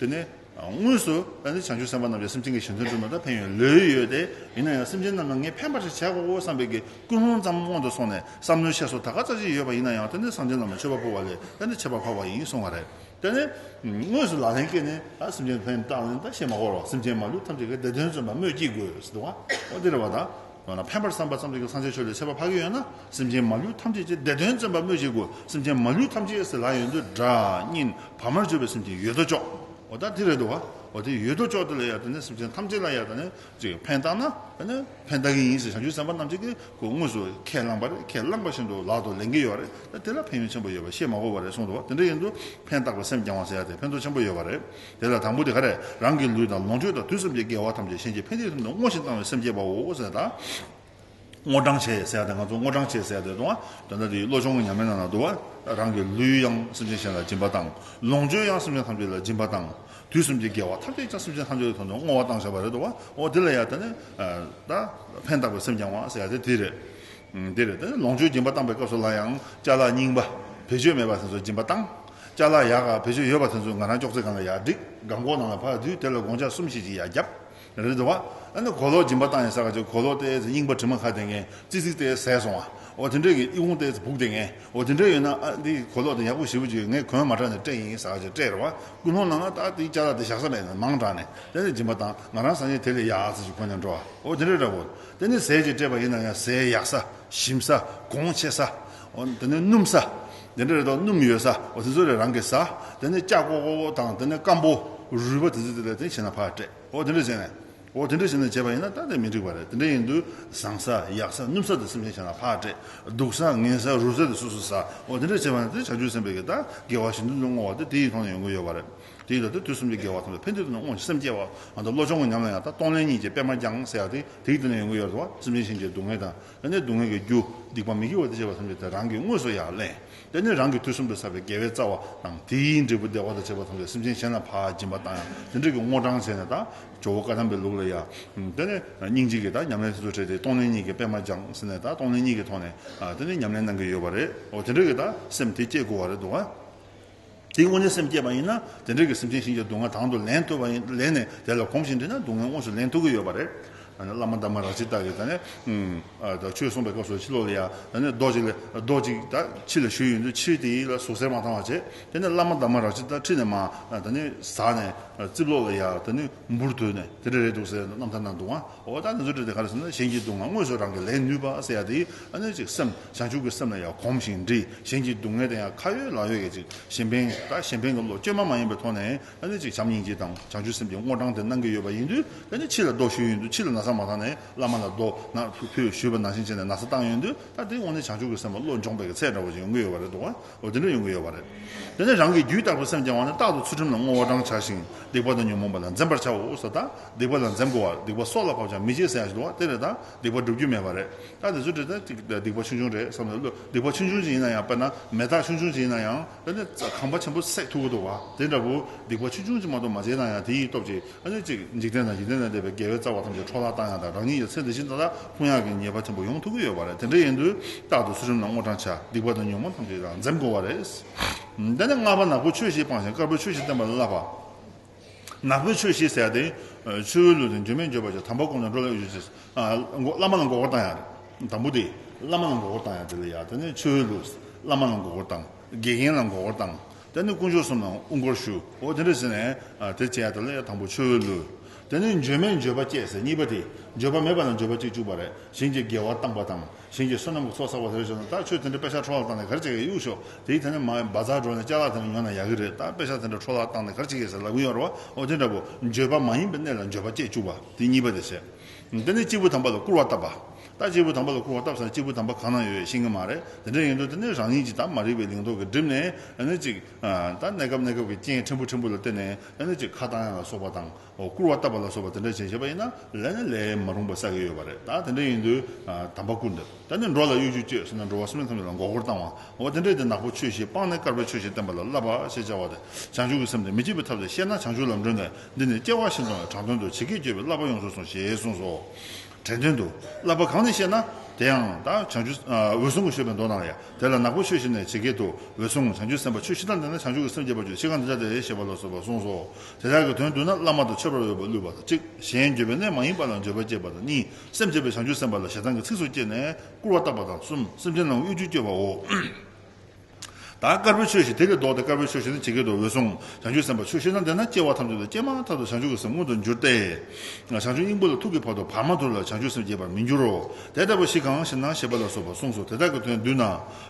དེ་ནས་དངོས་སུ་ད་ནི་བྱང་ཆུབ་སེམས་དཔའ་རྣམས་ཀྱི་སེམས་ཅན་གྱི་ཞེན་འཛིན་བསྒྲུབ་ན་ད་ཕན་ཡོན་ལོས་ཡོད་དེ། ཡིན་ན་ཡང་སེམས་ཅན་རྣམས་ལ་ངས་ཕན་པར་ཞིག་བྱས་དགོའོ་བསམ་པའི་གིས་ཀུན་སློང་ཙམ་སྔོན་དུ་སོང་ནས་བསམ་མནོའི་ཆས་སོགས་ད་ག་ཙག་ཅིག་ཡོད་པ་ཡིན་ན་ཡང་ད་ནི་སངས་རྒྱས་རྣམས་ལ་མཆོད་པ་ཕུལ་བ་ལས་ད་ནི་བྱེད་པར་འཕགས་པ་ཡིན་གསུང་བ་རེད། དེ་ནས་དངོས་སུ་ལག་ལེན་བཀལ་ནས་ད་སེམས་ཅན་ཕན་བཏགས་ནས་ད་བཤད་མ་གོ་རོགས་སེམས་ཅན་མ་ལུས་ཐམས་ཅད་ཀྱི་བདེ་དོན་བརྩོན་པར་སྨོས་ཅི་དགོས་ཟེར་ཏེ་བ་འདིར་བ་དང། ཡང་ན་ཕན་པར་བསམ་པ་ཙམ་གྱིས་ཀྱང་སངས་རྒྱས་ཆོས་ལས་ཆད་པ་ཕ་གི་ཡོད་ན་སེམས་ཅན་མ་ལུས་ཐམས་ཅད་ཀྱི་བདེ་དོན་བརྩོན་པ་སྨོས་ཅི་དགོས་སེམས་ཅན་མ་ལུས་ཐམས་ཅད་སྲིད་ལྷ་ཡོད་འདོད་དགྲ་གཉེན་བར་མར་གཅོད་པའི་སེམས་ཅན་ཡོད་དོ་ཅོག་འོ་ད་དེ་རེད་དོ་འོ་དེ་ཡོད་དོ་ཅོག་དེ་ལ་ཡང་དེ་ནས་སེམས་ཅན་ཐམས་ཅད་ལ་ཡང་དེ་ནས་ཅིག་ཕན་བཏགས་ན་དེ་ནས་ཕན་བཏགས་ཀྱི་ཡིན་ཞེས་བྱང་ཆུབ་སེམས་དཔའ་རྣམས་ཀྱིས་དེ་ཁོ་དངོས་སུ་ཁས་བླངས་པ་རེད་ཁས་བླངས་པ་བཞིན་དུ་ལག་ཏུ་ལེན་གྱི་ཡོད་རེད་ད་དེ་ལ་ཕན་ཡོན་ཆེན་པོ་ཡོད་པ་ཤེས་མ་གོ་བ་རེད་གསུངས་འདུག་དེ་འདྲ་ཡིན་དུས་ཕན་བཏགས་པའི་སེམས་བསྐྱང་བ་ཟེར་ཡ་དེ་ཕན་ཐོགས་ཆེན་པོ་ཡོད་པ་རེད། དེ་ལ་དང་པོ་དེ་ག་རེ། རང་གི་ལུས་དང་ལོངས་སྤྱོད་དང་དུས་སམ་བྱེད་དགེ་བ་ཐམས་ཅད་གཞན་གྱི་ཕན་བདེའི་ཐབས་ནི་བསྔོ་ཞིང་བཏང་བའི་སེམས་བསྐྱེད་པའོ། བསྔོ་བྱེད་དང། བསྔོ་བགྲང་བྱེད་ཟེར་བ་དེ་ང་ཚོ་བསྔོ་བགྲང་བྱེད་ཟེར་བ་དེ་དང། དོན་དག་དེའི་བློ་སྦྱོང་གི་ཉམས་ལེན་ནང་ན་དུ་བ། རང་གི་ལུས་ཡང་སེམས་ཅན་གཞན་ལ་སྦྱིན་པ་དང། ལོངས་སྤྱོད་ཡང་སེམས་ཅན་ཐམས་ཅད་ལ་སྦྱིན་པ་དང། དུས་སམ་བྱེད་དགེ་བ་ཐམས་ཅད་ཀྱང་སེམས་ཅན་ཐམས་ཅད་ཀྱི་ཐོག་ནས་བསྔོ་བ་བཏང་བྱ་བ་རེད་དོ། འོ་དེ་ལ་ཡང་དེ་ནི། ད། ཕན་བཏགས་པའི་སེམས་བསྐྱང་བ་ཟེར་བ་དེ་དེ་རེད། དེ་རེད། ལོངས་སྤྱོད་སྦྱིན་པ་བཏང་པའི་སྐབས་སུ་ལ་ཡང། ལྕགས་ལ་རྙིང་པ། བེད་སྤྱོད་མེད་པ་དེ་ཚོ་སྦྱིན་པ་བཏང། ལྕགས་ལ་ཡག་ག་བེད་སྤྱོད་ཡོད་པ་དེ་ཚོ་ང་རང་ཅོག་ཙེ་གང་ལ་ཡག་འགྲིག་ག་མགོ་ནང་ལ་ཕབ་དུས་དེ་ལ་དགོང་ཆ་གསུམ་བཞི་ཅིག་ཡག་རྒྱབ་རེད་འདུག་བ། ཨ་ནི་གོ་ལོག་སྦྱིན་པ་བཏང་ཡང་ས་ག་ཅིག་གོ་ལོག་ལྟས་ཚེ་རྙིང་པ་དྲི་མ་ཁ་དེ་ངན་ཙིག་ཙིག་ལྟས་ཟས་སོང་བ། འོ་དེ་འདྲས་ཀྱི་ཨི་ཧུང་ལྟས་ཚེ་བུག་དེ་ངན། འོ་དེ་འདྲས་ཡོད་ན་ཨ་འདི་གོ་ལོག་དེ་ཡག་པོ་ཞིབ་པོ་བྱོས་ངས་གོན་མ་དྲག་ནས་སྤྲད་ཡིན་ས་ག་ཅིག་སྤྲད་རེད་བ། ཀུན་སློང་ནང་ན་ཏག་དེའི་ལྕགས་ལ་དེ་བཞག་ས་མེད་ནས་མང་དྲག་ནས་དེ་ནས་སྦྱིན་པ་བཏང་ང་རང་ས་ཉིན་དེ་ལས་ཡག་ས་ཅིག་གོན་ནས་འགྲོ་བ། འོ་དེ་འདྲས་རེད་བོ། དེ་ནས་ཟས་ཅིག་སྤྲད་པ་ཡིན་ན་ཡང་ཟས་ཡག་ས་ཞིམ་ས་གོང་ཆེ་ས། འོ་དེ་ནས་སྣུམ་ས། དེ་འདྲ་རེ་དོགས་སྣུམ་ཡོད་ས་བ་དེ་ཚོ་རེ་རང་གིས་ཟ། དེ་ནས་ལྕགས་ཀོ་ཀོ་དང་དེ་ནས་སྐམ་པོ། རུས་པ་དེ་ཚོ་དེ་ལས་དེ་བྱས་ན་ཕར་སྤྲད། འོ་དེ་འདྲ་བྱས་ནས། འོ་དེ་འདྲ་བྱས་ནས་བྱས་པ་ཡིན་ན་ད་དེ་མི་འགྲིག་པ་རེད་དེ་འདྲ་ཡིན་དུས་བཟང་ས་ཡག་ས་སྣུམ་ས་དེ་སེམས་ཅན་བྱས་ན་ཕར་སྤྲད། སྡུག་ས་ངན་ས་རུལ་ས་དེ་སོ་སོ་ཟ། འོ་དེ་འདྲ་བྱས་པ་ན་དེ་བྱ་རྒྱུ་སེམས་པས་ཀྱི་ད་དགེ་བ་ཞིང་དུ་ནི་བསྔོ་བ་དེ་དེ་ཡིས་ཐོག་ནས་ཡོང་གི་ཡོད་པ་རེད། དེ་ཡིས་ད་དེ་དུས་གསུམ་གྱི་དགེ་བ་ཐོབ་ནས་ཕན་བདེ་དུ་ནི་བསྔོ་ཞིང་སེམས་སྐྱེ་བའང་དང་བློ་སྦྱོང་གི་ཉམས་ལ་ཡང་ད་གཏོང་ལེན་གཉིས་ཀྱི་པད་མ་བརྐྱང་ཟེར་ཡག་དེ་དེ་ཡིས་ད་ནས་ཡོང་གི་ཡོད་རེད་བ་སེམས་ཅན་གཞན་གྱི་སྡུག་བསྔལ་དང། དེ་ནས་སྡུག་བསྔལ་གྱི་རྒྱུ་སྡིག་པ་མི་དགེ་བ་འདི་བྱས་པར་སེམས་བྱེད་དེ་རང་གིས་དངོས་སུ་ཡང་གླེང། དེ་ནི་རང་གི་དུས་གསུམ་དུ་བསགས་པའི་དགེ་བའི་རྩ་བ་དང་དེའི་འབྲས་བུ་བདེ་བ་དང་བཅས་པ་མཐོང་བའི་སེམས་ཅན་གཞན་ལ་བག་འབྱིན་པ་དང་ཡང་དེ་འབྲེལ་གྱི་བསྔོ་བགྲང་བྱས་ནས་དང། ཇོ་བོ་བཀའ་ཐམས་པའི་ལུགས་ལ་ཡང། དེ་ནི་སྙིང་རྗེ་གིས་དང་ཉམས་ལེན་སོ་སོར་ཕྲལ་ཏེ་གཏོང་ལེན་གཉིས་ཀྱི་པད་མ་སྦྱངས་ཟིན་ནས་དང་གཏོང་ལེན་གཉིས་ཀྱི་ཐོག་ནས་དེ་ནི་ཉམས་ལེན་གནང་གི་ཡོད་པ་རེད། འོ་དེ་འབྲེལ་གྱི་དང་སེམས་དེ་སྐྱེ་དགོས་བ་རེད་འདུག་ཨ། དེ་སྔོན་ནས་སེམས་བསྐྱེད་པ་ཡིན་ན་དེ་འབྲེལ་གྱི་སེམས་ཅན་གཤིན་རྗེའི་སྡུག་བསྔལ་དང་དུ་ལེན་ཐུབ་པ་ཡིན། ལེན་ནས་དེ་ལ་གོམས་ཤིང་འདྲིས་ན་སྡུག་བསྔལ་དངོས་སུ་ལེན་ཐུབ་ཀྱི་ཡོད་པ་རེད། བླ་མ་འདབ་མ་ར་བྱི་དག་གིས། ཆོས་གསུངས་པའི་སྐབས་སུ་ཕྱི་ལོགས་ལ་ཡང། རྡོ་གཅིག་རྡོ་གཅིག་དག་ཕྱི་ལ་བཞུས་ཡོད་དུས་ཕྱིར་དེ་ཡིད་ལ་ཟུག་གཟེར་མ་བཏང་བར་བྱེད། དེ་ནས་བླ་མ་འདབ་མ་ར་བྱི་དག་ཁྲིད་ནས་མ། ཟགས་ནས། རྩིབ་ལོགས་ལ་ཡང། འབུར་དོད་ནས་དེ་འདྲ་རེད་འདུག་ཟེར་ནས་རྣམ་ཐར་ན་འདུག་ཨང། འོ་ད་ནི་རྫུ་འཕྲུལ་དེ་ག་ལ་སྲིད་ན་གཞན་གྱིས་སྡུག་བསྔལ་དངོས་སུ་རང་གིས་ལེན་ནུས་པ་སེ་ཡ་དེ་ཨ་ནུས་ཅིག་སེམས་བྱང་ཆུབ་ཀྱི་སེམས་ལ་ཡང་གོམས་ཤིང་འདྲིས་གཞན་གྱི་སྡུག་བསྔལ་དེ་ཡང་ཁ་ཡོད་ལག་ཡོད་ཀྱིས་ཅིག་གཞན་ཕན་ད་གཞན་ཕན་གྱི་བློ་བཅོས་མ་མ་ཡིན་པའི་ཐོག་ནས་ཨ་ནུས་ཅིག་བྱམས་སྙིང་རྗེ་དང་བྱང་ཆུབ་སེམས་ཀྱི་སྔོ་གྲང་དེ་གནང་གི་ཡོད་པ་ཡིན་དུས་ད་ནི་ཕྱི་ལ་ལྡོག་ཞུས་ཡོད་དུས་ཕྱི་ལ་ན་བཟའ་མ་བཏང་ནས་བླ་མ་ལ་རྡོ་ན་ཕུལ་ཞུས་པ་ནང་བཞིན་བྱས་ནས་ན་བཟའ་བཏང་ཡོད་དུས་ད་དེའི་འོག་ནས་བྱང་ཆུབ་ཀྱི་སེམས་ལ་བློ་འབྱོངས་པའི་ཚད་འདྲ་བོ་ཅིག་ཡོང་གི་ཡོད་པ་རེད་འདུག་བ། འོ་དེ་འདྲ་ཡོང་གི་ཡོད་པ་རེད། དེ་ནས་རང་གིས་རྒྱུད་བཏགས་པའི་སེམས་བསྐྱང་བ་ནི་རྟག་ཏུ་ཚུལ་ཁྲིམས་ལ་བསྔོ་བ་རང་བྱ་ཞིང་སྡིག་པ་དང་ཉོན་མོངས་པ་ལ་འཛེམ་པར་བྱའོ་སོ། རྟག་སྡིག་པ་ལ་འཛེམ་དགོས་བར་སྡིག་པ་སྲོག་ལ་བབ་ཀྱང་མི་བྱེད་ཟེར་ཡང་བྱེད་དོ་དེ་རེད་ད། སྡིག་པ་འགྲུབ་རྒྱུ་མེད་པ་རེད། ད་དེ་ཚོའི་ཁྲོད་དུ་སྡིག་པ་ཆུང་ཆུང་རེད་བསམ་ནས་བློས་སྡིག་པ་ཆུང་ཆུང་ཅིག་ཡིན་ན་ཡང་དཔེར་ན་མེ་སྟག་ཆུང་ཆུང་ཅིག་ཡིན་ན་ཡང། ཁང་པ་ཆེན་པོ་བསྲེགས་ཐུབ་ཀྱི་འདུག་བ། དེ་འདྲ་བུ་སྡིག་པ་ཆུང་ཆུང་ཅིག་མ་གཏོགས་མ་བྱས་ན་ཡང་དེ་ཡིས་སྟོབས་ཀྱིས་ཨ་ནུ་གཅིག་འཇིག་རྟེན་དང་འཇིག་རྟེན་ལས་འདས་པའི་དགེ་བའི་རྩ་བ་ཐམས་ཅད་འཕྲོག་བརླག་བཏང་ཡང་དང་རང་ཉིད་ཡོད་ཚད་འདི་བཞིན་ཏག་ཏག་ལྷུང་ཡག་གི་ཉེས་པ་ཆེན་པོ་ཡོང་ཐུབ་ཀྱི་ཡོད་པ་རེད་དེ་འདྲ་ཡིན་དུས་རྟག་ཏུ་ཚུལ་ཁྲིམས་ལ་སྔོ་བགྲང་བྱ་སྡིག་པ་དང་ཉོན་མོངས་ཐམས་ཅད་ཡང་འཛེམ་དགོས་བ་རེད། དེ་ནས་སྔགས་པ་ནག་པོས་ཆོས་བཞི་སྤངས་ཤིང་དཀར་པོས་ཆོས་བཞི་བསྟན་པ་ལ་བསླབ་པ། ནག་པོས་ཆོས་བཞི་བསལ་ཏེ། ཆུ་བོའི་ལུས་དང་འགྱུར་མེད་འགྱུར་བ་བཅས་དམ་པར་བསྒོམས་ནས་འགྲོ་ལ་གཡོལ་བྱེད། བླ་མ་ལ་མགོ་སྐོར་བཏང་ཡང་རེད། དང་པོ་དེ། བླ་མ་ལ་མགོ་སྐོར་བཏང་ཡང་རེད་ལ་ཡང་དེ་ནས་ཆུ་བོའི་ལུས། བླ་མ་ལ་མགོ་སྐོར་བཏང། དགེ་རྒན་ལ་མགོ་སྐོར་བཏང། དེ་ནི་དཀོན་མཆོག་གསུམ་ལ་དབུ་མགོར་གཞུག་འོ་དེ་འདྲ་ཟེར་ནས་དེ་བྱས་དང་ལས་དང་པོ་མཆོད་འོས་བླུས། དེ་ནི་འགྱོད་མེད་འགྱོད་པ་སྐྱེས་ཟེར་གཉིས་པ་དེ་འགྱོད་པ་མེད་པ་ལ་འགྱོད་པ་སྐྱེས་བཅུ་བ་རེ་ཞིང་གི་དགེ་བ་བཏང་པ་དང་ཞིང་གི་བསོད་ནམས་ཀྱི་ཚོགས་བསགས་པ་དེ་རེ་བྱུང་ན་ད་ཁྱོད་དེ་འདྲ་དཔེ་ཆ་འཕྲོ་བརླག་བཏང་ནས་གར་བྱེད་ཀྱི་གཡུག་ཞོག་དེའི་ཐད་ནས་མ་འབའ་རྩར་འགྲོ་ནས་ལྕགས་ལག་དེ་འདྲ་ཉོ་ན་ཡག་གི་རེད་ད་དཔེ་ཆ་དེ་འདྲ་འཕྲོ་བརླག་བཏང་ནས་གར་བྱེད་ཀྱི་ཟེར་ལབ་གིན་ཡོད་རེད་བ་འོ་དེ་འདྲ་བོ་འགྱོད་པ་མ་ཡིན་པའི་གནས་ལ་འགྱོད་པ་སྐྱེས་བཅུ་བ་དེ་གཉིས་པ་དེ་བྱས། དེ་ནི་སྐྱེས་བུ་དམ་པ་ལ་བསྐུར་བ་བཏབ་པ། རྟ་གཅིག་པུ་དམ་པ་ལ་བསྐུར་བ་སྟབས་བཟང་གཅིག་པུ་དམ་པ་གང་ན་ཡོད་ཤེས་ཀྱི་མ་རེད་དེ་འདྲ་ཡིན་དུས་དེ་ནས་རང་ཉིད་ཀྱི་དང་མ་རིག་པའི་ལིང་ཏོག་གིས་བསྒྲིབས་ནས་ཨ་ནི་ཅིག། ད་གནས་སྐབས་གནས་སྐབས་ཀྱི་རྐྱེན་ཕྲན་བུ་ཕྲན་བུ་ལ་བརྟེན་ནས་ཨ་ནི་ཅིག་ཁ་བཏང་ཡ་ལ་སོགས་པ་དང་བསྐུར་བ་བཏབ་པ་ལ་སོགས་པ་དེ་འདྲ་བྱས་བྱས་པ་ཡིན་ན་ལས་ནི་ལས་མ་རུང་པ་བསགས་ཀྱི་ཡོད་པ་རེད་ད་དེ་འདྲ་ཡིན་དུས་དམ་པ་བསྐུར་འདོད་ད་ནི་འགྲོ་ལ་གཡོ་སྒྱུ་བསྐྱོད་ཟེར་ན་འགྲོ་བ་སེམས་ཅན་ཐམས་ཅད་ལ་མགོ་སྐོར་བཏང་བ་འོ་དེ་འདྲས་དེ་ནག་པོ་ཆོས་བཞི་སྤངས་ནས་དཀར་པོའི་ཆོས་བཞི་བསྟན་པ་ལ་བསླབ་པ་ཞེས་བྱ་བ་དེ་བྱང་ཆུབ་ཀྱི་སེམས་དེ་མི་སྐྱེ་བའི་ཐབས་ལས་བཤད་ན་བྱང་ཆུབ་ལམ་སྒྲོན་ནས་འདི་ནི་སྐྱེ་བ་བཞིན་དུ་དྲང་དོན་དུ་ཇི་སྐད་བསྐྱོད་པའི་བསླབ་པ་ཡོངས་སུ་སོང་ཞེས་གསུངས་སོ། དྲན་དོན་དུ་བསླབ་པ་གང་ནས་ཤེས་ན། དེ་ཡང་དང་བྱང་ཆུབ་འོད་སྲུང་གི་ཤོད་པའི་མདོ་དང། དེ་ལ་ནག་པོ་ཆོས་བཞི་ནས་ཇི་སྐད་དུ། འོད་སྲུང་བྱང་ཆུབ་སེམས་དཔའ་ཆོས་བཞི་དང་ལྡན་ན་བྱང་ཆུབ་ཀྱི་སེམས་བསྐྱེད་པར་གྱུར་ཅི་གང་འདི་ལྟ་སྟེ་ཞེས་པ་ལ་སོགས་པ་གསུངས་སོ། དེ་དག་གི་དོན་བསྡུ་ན་བླ་མ་དང་ཆོས་པར་འོས་པར་བསླུས་པ་དང་གཅིག་གཞན་འགྱོད་པའི་གནས་མ་ཡིན་པ་ལ་འགྱོད་པ་བསྐྱེད་པ་དང་གཉིས་སེམས་བསྐྱེད་པའི་བྱང་ཆུབ་སེམས་དཔའ་ལ་ཞེ་སྡང་གི་ཚིགས་སུ་བཅད་ནས་སྐུར་བ་བཏགས་པ་དང་གསུམ་སེམས་ཅན་རྣམས་དབུལ་འཇུག་སྐྱོབ་པའོ། ད་དཀར་པོའི་ཆོས་ཞེས་དེ་ལས་བཟློག་སྟེ་དཀར་པོའི་ཆོས་ཞེས་ན་ཇི་སྐད་དུ་འོད་སྲུང་བྱང་ཆུབ་སེམས་དཔའ་ཆོས་ཤེས་ན་འདི་ན་སྐྱེ་བ་ཐམས་ཅད་དུ་སྐྱེ་མ་ཐག་ཏུ་བྱང་ཆུབ་ཀྱི་སེམས་མངོན་དུ་འགྱུར་ཏེ། བྱང་ཆུབ་སྙིང་པོ་ལ་ཐུག་གི་བར་དུ་བར་མ་དོར་ལ་བྱང་ཆུབ་སེམས་སྐྱེ་བར་མི་འགྱུར་རོ། དེ་ལྟ་བུ་ཞིག་གང་ཞེ་ན་ཞེས་པ་ལ་སོགས་པ་གསུངས་སོ་དེ་དག་གི་དོན་བསྡུ་ན།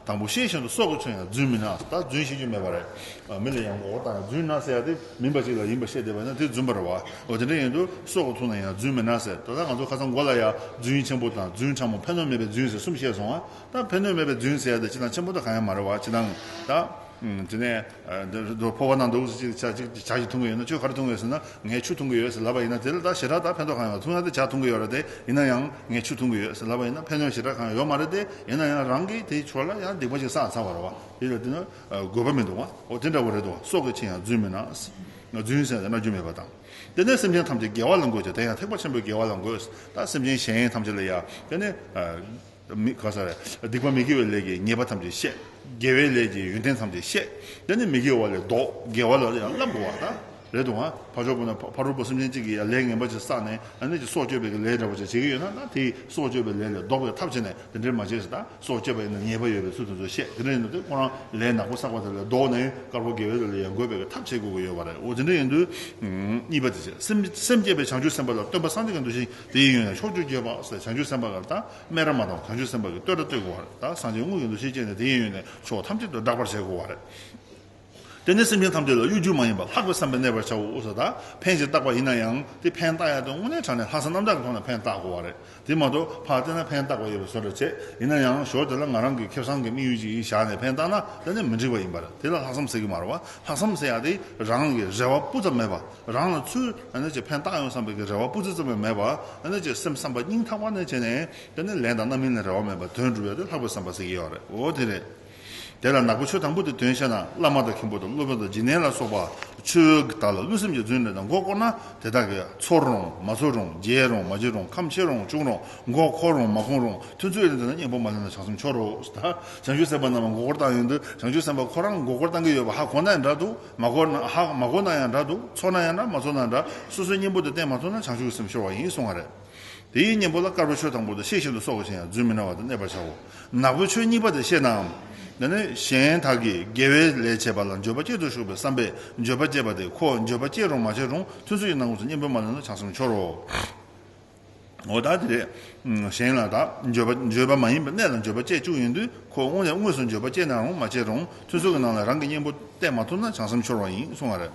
དང་པོ་ཤེས་བཞིན་དུ་སྲོག་གི་ཚོན་ཡང་རྫུན་མིན་ན་ད་རྫུན་ཤེས་རྒྱུ་མེད་པ་རེད། མི་ལ་ཡང་མགོ་བོ་བཏགས་ན་རྫུན་ན་ཟེར་ཡག་སྟེ་མིན་པ་ཅིག་ལ་ཡིན་པར་བཤད་བསྡད་པ་ན་དེ་རྫུན་པར་རོ། འོ་དེ་འདྲ་ཡིན་དུས་སྲོག་གི་ཚོན་ལ་ཡང་རྫུན་མིན་ན་ཟེར་ད་ལྟ་ང་ཚོ་ཁ་སང་མགོ་ལ་ཡང་རྫུན་ཆེན་པོ་དང་རྫུན་ཕྲ་མོ་ཕན་ནོར་མེད་པའི་རྫུན་ཟེར་གསུམ་བཤད་སོང་ང་ད་ཕན་ནུས་མེད་པའི་རྫུན་ཟེར་ཡ་དེ་ཅི་དང་ཆེན་པོ་དང་གང་ཡང་མ་རེད་བ་ཅི་དང། ད། དེ་ནས། འདོད་ཕོར་བ་ནང་འདུག་ཅིག་ཅག་ཅིག་ཇག་གིས་འཐུང་གི་ཡོད་ན་ཁྱོས་ག་རེ་འཐུང་གི་ཡོད་ཟེར་ན་ངས་ཆུ་འཐུང་གི་ཡོད་ཟེར་ལབ་པ་ཡིན་ན་དེ་ལ་ད་ཞེ་དྲག་ད་ཕན་ཐོགས་གང་ཡོད་འཐུང་ཡ་དེ་ཇག་འཐུང་གི་ཡོད་ར་དེ་ཡིན་ན་ཡང་ངས་ཆུ་འཐུང་གི་ཡོད་ཟེར་ལབ་པ་ཡིན་ན་ཕན་ཡོད་ཞེ་དྲག་གང་ཡོད་མ་རེད་དེ་ཡིན་ན་ཡང་རང་གིས་དེའི་ཕྱོགས་ལ་ཡང་སྡིག་པ་ཞིག་བསགས་ཚར་བ་རེད་བ་དེ་ལ་དེ་ནི་དགོས་པ་མི་འདུག་བ་འོ་དེ་འདྲ་བོ་རེད་དོ་སྲོག་གི་ཆེད་ཡང་རྫུན་མིན་ན་རྫུན་ཟེར་ན་རྒྱུ་མེད་པ་དང། དེ་ནས་སེམས་ཅན་ཐམས་ཅད་དགེ་བ་ལ་འགོད་ཅིག་དེ་ཡང་ཐེག་པ་ཆེན་པོའི་དགེ་བ་ལ་འགོད། ད་སེམས་ཅན་གཞན་ཡིན་ཐམས་ཅད་ལ་ཡང་དེ་ནི། མི་དགའ་ས་རེད། སྡིག་པ་མི་དགེ་བའི་ལས་ཀྱིས་ཉེས་པ་ཐམས་ཅད་བཤད། དགེ་བའི་ལས་ཀྱིས་ཡོན་ཏན་ཐམས་ཅད་བཤད། དེ་ནི་མི་དགེ་བ་ལས་ལྡོག་དགེ་བ་ལ་ཡང་བསླབ་དགོས་བ་དང། རེད་འདུག་ཨང། ཕ་ཆོག་པོ་ན་ཕ་རོལ་པོ་སེམས་ཅན་གཅིག་གི་ཡང་ལས་ངན་པ་ཅིག་བསགས་ནས་ཨ་ནེ་ཀྱི་སྲོག་གཅོད་པའི་གི་ལས་འདྲ་པོ་ཅིག་བྱེད་ཀྱི་ཡོད་ན་ན་དེ་ཡིས་སྲོག་གཅོད་པའི་ལས་ལས་ལྡོག་པའི་ཐབས་བྱས་ནས་དེ་འདྲའི་མ་བྱས་ཟེར་ད་སྲོག་བཅད་པ་ཡིན་ན་ཉེས་པ་ཡོད་པའི་ཚུལ་དེ་ཚོ་བཤད་དེ་འདྲ་ཡིན་དུས་དེ་ཁོ་རང་ལས་ནག་པོ་བསགས་པ་དེ་ལས་ལྡོག་ནས་དཀར་པོ་དགེ་བའི་ལས་ལ་ཡང་དགོས་པའི་གི་ཐབས་བྱེད་དགོས་ཀྱི་ཡོད་བ་རེད་འོ་དེ་འདྲ་ཡིན་དུས། གཉིས་པ་དེ་བྱས། སེམས་བསྐྱེད་པའི་བྱང་ཆུབ་སེམས་དཔའ་ལ་སྟོན་པ་སངས་རྒྱས་ཀྱི་འདུ་ཤེས་དེ་ཡིན་ཡང་ཕྱོགས་བཅུ་རྒྱལ་བ་སྲས་བྱང་ཆུབ་སེམས་དཔའ་གར་དང་སྨན་ར་མ་དང་བྱང་ཆུབ་སེམས་དཔའ་གྱི་བསྟོད་གྲྭ་གཏོད་དགོས་བ་རེད་ད་སངས་རྒྱས་དངོས་ཀྱི་འདུ་ཤེས་བསྐྱེད་ནས་དེ་ཡིན་ཡོད་ནས་ཕྱོགས་ཐམས་ཅད་དུ་བསྒྲགས་པར་བྱེད་དགོས་བ་རེད། དེ་ནས་སེམས་ཅན་ཐམས་ཅད་ལ་གཡོ་སྒྱུ་མ་ཡིན་པར་ལྷག་པའི་བསམ་པས་གནས་པར་བྱའོ་ཨོ་ས་ད་ཕན་ཞིག་བཏགས་པ་ཡིན་ན་ཡང་དེ་ཕན་བཏགས་ཡག་དེ་དངོས་གནས་དྲང་ནས་ལྷག་བསམ་རྣམ་དག་གི་ཐོག་ནས་ཕན་བཏགས་དགོས་བ་རེད་དེ་མ་གཏོགས་ཕར་བལྟས་ན་ཕན་བཏགས་པ་ཡོད་པའི་བཟོ་འདྲ་བྱེད་ཡིན་ན་ཡང་ཞོར་དེ་ལ་ང་རང་གི་ཁེབས་བཟང་གི་དམིགས་ཡུལ་ཅིག་ཡིན་བཞག་ནས་ཕན་བཏགས་ན་དེ་ནི་མི་འགྲིགས་བ་ཡིན་པ་རེད་དེ་ལ་ལྷག་བསམ་ཟེར་གི་མ་རེད་བ་ལྷག་བསམ་ཟེར་ཡག་དེ་རང་གི་རེ་བ་སྤུ་ཙམ་མེད་པ། རང་ལ་ཚུལ་ཕན་བཏགས་ཡོང་བསམ་པའི་རེ་བ་སྤུ་རྩེ་ཙམ་ཡང་མེད་པར་སེམས་བསམ་པ་སྙིང་ཐག་པ་ནས་བྱས་ནས་ལན་དང་རྣམ་སྨིན་ལ་རེ་བ་མེད་པར་དོན་འགྲུབ་ཡོད་དེ་ལྷག་པའི་བསམ་པ་ཟེར་གྱི་ཡོད་རེད་འོ་དེ་རེད། དེ་ལ་ནག་པོ་ཆོས་དང་པོ་དེ་དོན་བཤད་ན་བླ་མ་དང་མཁན་པོ་དང་སློབ་དཔོན་དང་སྦྱིན་གནས་ལ་སོགས་པ་ཆོས་བརྒྱུད་དག་ལ་བསླུ་སེམས་ཀྱི་རྫུན་ལས་དང་མགོ་བསྐོར་ན་དེ་དག་གིས་ཚོར་རུང་མ་ཚོར་རུང་བརྗེད་རུང་མ་བརྗེད་རུང་ཁམས་ཆེ་རུང་ཆུང་རུང་མགོ་འཁོར་རུང་མ་འཁོར་རུང་ཐུན་ཚོད་ལེན་དེ་ན་གཉེན་པོ་མ་ལེན་ན་བྱང་སེམས་འཆོར་རོ། བྱང་ཆུབ་སེམས་དཔའ་རྣམས་མགོ་བསྐོར་བཏང་ཡོད་འདུག་བྱང་ཆུབ་སེམས་དཔའ་ཁོ་རང་མགོ་བསྐོར་བཏང་གི་ཡོད་པ་ཧ་གོ་ན་ཡང་འདྲ་འདུག། མ་གོ་ན་ཧཧཧ་མ་གོ་ན་ཡང་འདྲ་འདུག་ཚོར་ན་ཡང་འདྲ་མ་ཚོར་ན་འདྲ་སོ་སོའི་གཉེན་པོ་དེ་བསྟེན་མ་ཐུབ་ན་བྱང་ཆུབ་ཀྱི་སེམས་ཤོར་བ་ཡིན་གསུང་བ་རེད། དེའི་གཉེན་པོ་ལ་དཀར་པོའི་ཆོས་དང་པོ་དང་ཤེས་བཞིན་དུ་སྲོག་གི་ཆེན་ཡང་རྫུན་མི་སྣང་བ་དང་གནས་པར་བྱའོ། ནག་པོའི་ཆོས་གཉིས་པ་དེ་ཤེས་ནའམ། དེ་ནི་གཞན་དག་གིས་དགེ་བའི་ལས་བྱས་པ་ལ་འགྱོད་པ་སྐྱེད་དུ་གཞུག་པའི་བསམ་པས་འགྱོད་པ་སྐྱེད་པ་དེ་ཁོ་འགྱོད་པ་སྐྱེད་རུང་མ་སྐྱེད་རུང་ཐུན་ཚོད་ཀྱི་ནང་ངོས་སུ་གཉེན་པོའི་མ་ལོན་ན་བྱང་སེམས་འཆོར་རོ། འོ་ད་དེ་ལས་གཞན་ལ་དག་བརྗོད་པ་མ་ཡིན་པའི་གནས་ལ་འགྱོད་པ་སྐྱེས་བཅུག་ཡིན་དུས་ཁོ་དངོས་ནས་དངོས་སུ་འགྱོད་པ་སྐྱེས་ནའང་མ་སྐྱེས་རུང་ཚུར་ཚུར་གྱི་ནང་ལ་རང་གི་སྙིང་པོ་བསྟན་མ་ཐུབ་ན་བྱང་སེམས་འཆོར་བ་ཡིན་གསུང་བ་རེད།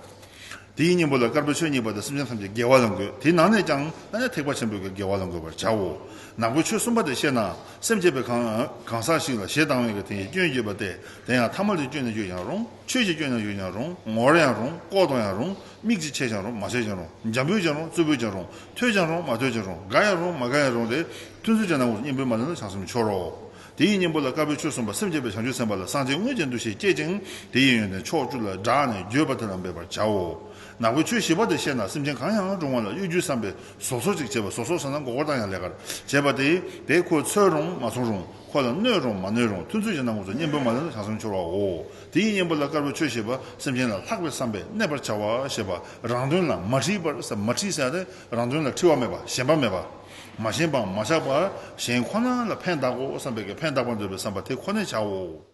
དེའི་སྙིང་པོ་ལ་དཀར་པོའི་ཆོས་གཉིས་པ་དང་སེམས་ཅན་ཐམས་ཅད་དགེ་བ་ལ་འགོད་དེའི་ནང་ནས་ཀྱང་ཐ་ན་ཐེག་པ་ཆེན་པོའི་དགེ་བ་ལ་འགོད་པར་བྱའོ། ནག་པོའི་ཆོས་གསུམ་པ་དེ་ཤེས་ན་སེམས་བསྐྱེད་པའི་གང་ཟག་ཞིག་ལ་ཞེ་སྡང་བའི་དེ་ཡི་སྐྱོན་བསྐྱེད་པ་སྟེ་དེ་ཡང་ཐ་མ་ལུས་སྐྱོན་ནས་ཡོད་ཀྱང་རུང་ཆོས་ཀྱི་སྐྱོན་ནས་ཡོད་ཀྱང་རུང་ངོར་ཡང་རུང་ལྐོག་ཏུ་ཡང་རུང་མིག་གཅིག་ཕྱེ་ཀྱང་རུང་མ་ཕྱེ་ཀྱང་རུང། འཇམ་པོས་ཀྱང་རུང་རྩུབ་པོས་ཀྱང་རུང། ཐོས་ཀྱང་རུང་མ་ཐོས་ཀྱང་རུང། དགའ་ཡང་རུང་མ་དགའ་ཡང་རུང་སྟེ། ཐུན་ཚོད་ཅིག་ན་འོངས་སོ་སྙིང་པོའི་མ་ལས་ན་བྱང་སེམས་འཆོར་རོ། དེ་ཡི་གཉེན་པོ་ལ་དཀར་པོའི་ཆོས་གསུངས་པ་སེམས་བསྐྱེད་པའི་བྱང་ཆུབ་སེམས་དཔའ་ལ་སངས་རྒྱས་དངོས་ཀྱི་འདུ་ཤེས་བསྐྱེད་ཅིང་དེ་ཡི་ཡོན་ཏན་ཕྱོགས་བཅུ་ལ་བསྒྲགས་ནས་བརྗོད་པ་དེ་རྣམས་འབད་པར་བྱའོ། ནག་པོའི་ཆོས་བཞི་པ་དེ་ཤེས་ན་སེམས་ཅན་གང་ཡང་རུང་བ་ལ་གཡོ་སྒྱུའི་བསམ་པས་ཟོག་ཟོག་ཅིག་བྱེད་པ་ཟོག་ཟོག་ཟེར་ན་མགོ་སྐོར་དང་ཡང་ལས་ཀར་བྱེད་པ་སྟེ། དེས་ཁོ་འཚོལ་རུང་མ་འཚོལ་རུང་ཁོ་ལ་གནོད་རུང་མ་གནོད་རུང་ཐུན་ཚོད་ཅིག་ན་འོངས་སོ་སྙིང་པོའི་མ་ལས་ན་བྱང་སེམས་འཆོར་བའོ། དེའི་གཉེན་པོ་ལ་དཀར་པོའི་ཆོས་ཞེས་པ་སེམས་ཅན་ལ་ལྷག་པའི་བསམ་པས་གནས་པར་བྱ་བ་ཞེས་པ་རང་དོན་ལ་མ་འཁྲིལ་བར་ཟད་མ་འཁྲིལ་ཟད་རང་དོན་ལ་འཁྲིལ་བ་མེད་པ་ཞེན་པ་མེད་པ། མ་ཞེན་པའང་མ་ཆགས་པར་གཞན་ཁོ་ན་ལ་ཕན་གདག་གོ་བསམ་པས་ཀྱང་ཕན་གདག་པར་འདོད་པའི་བསམ་པ་དེ་ཁོ་ནས་བྱའོ།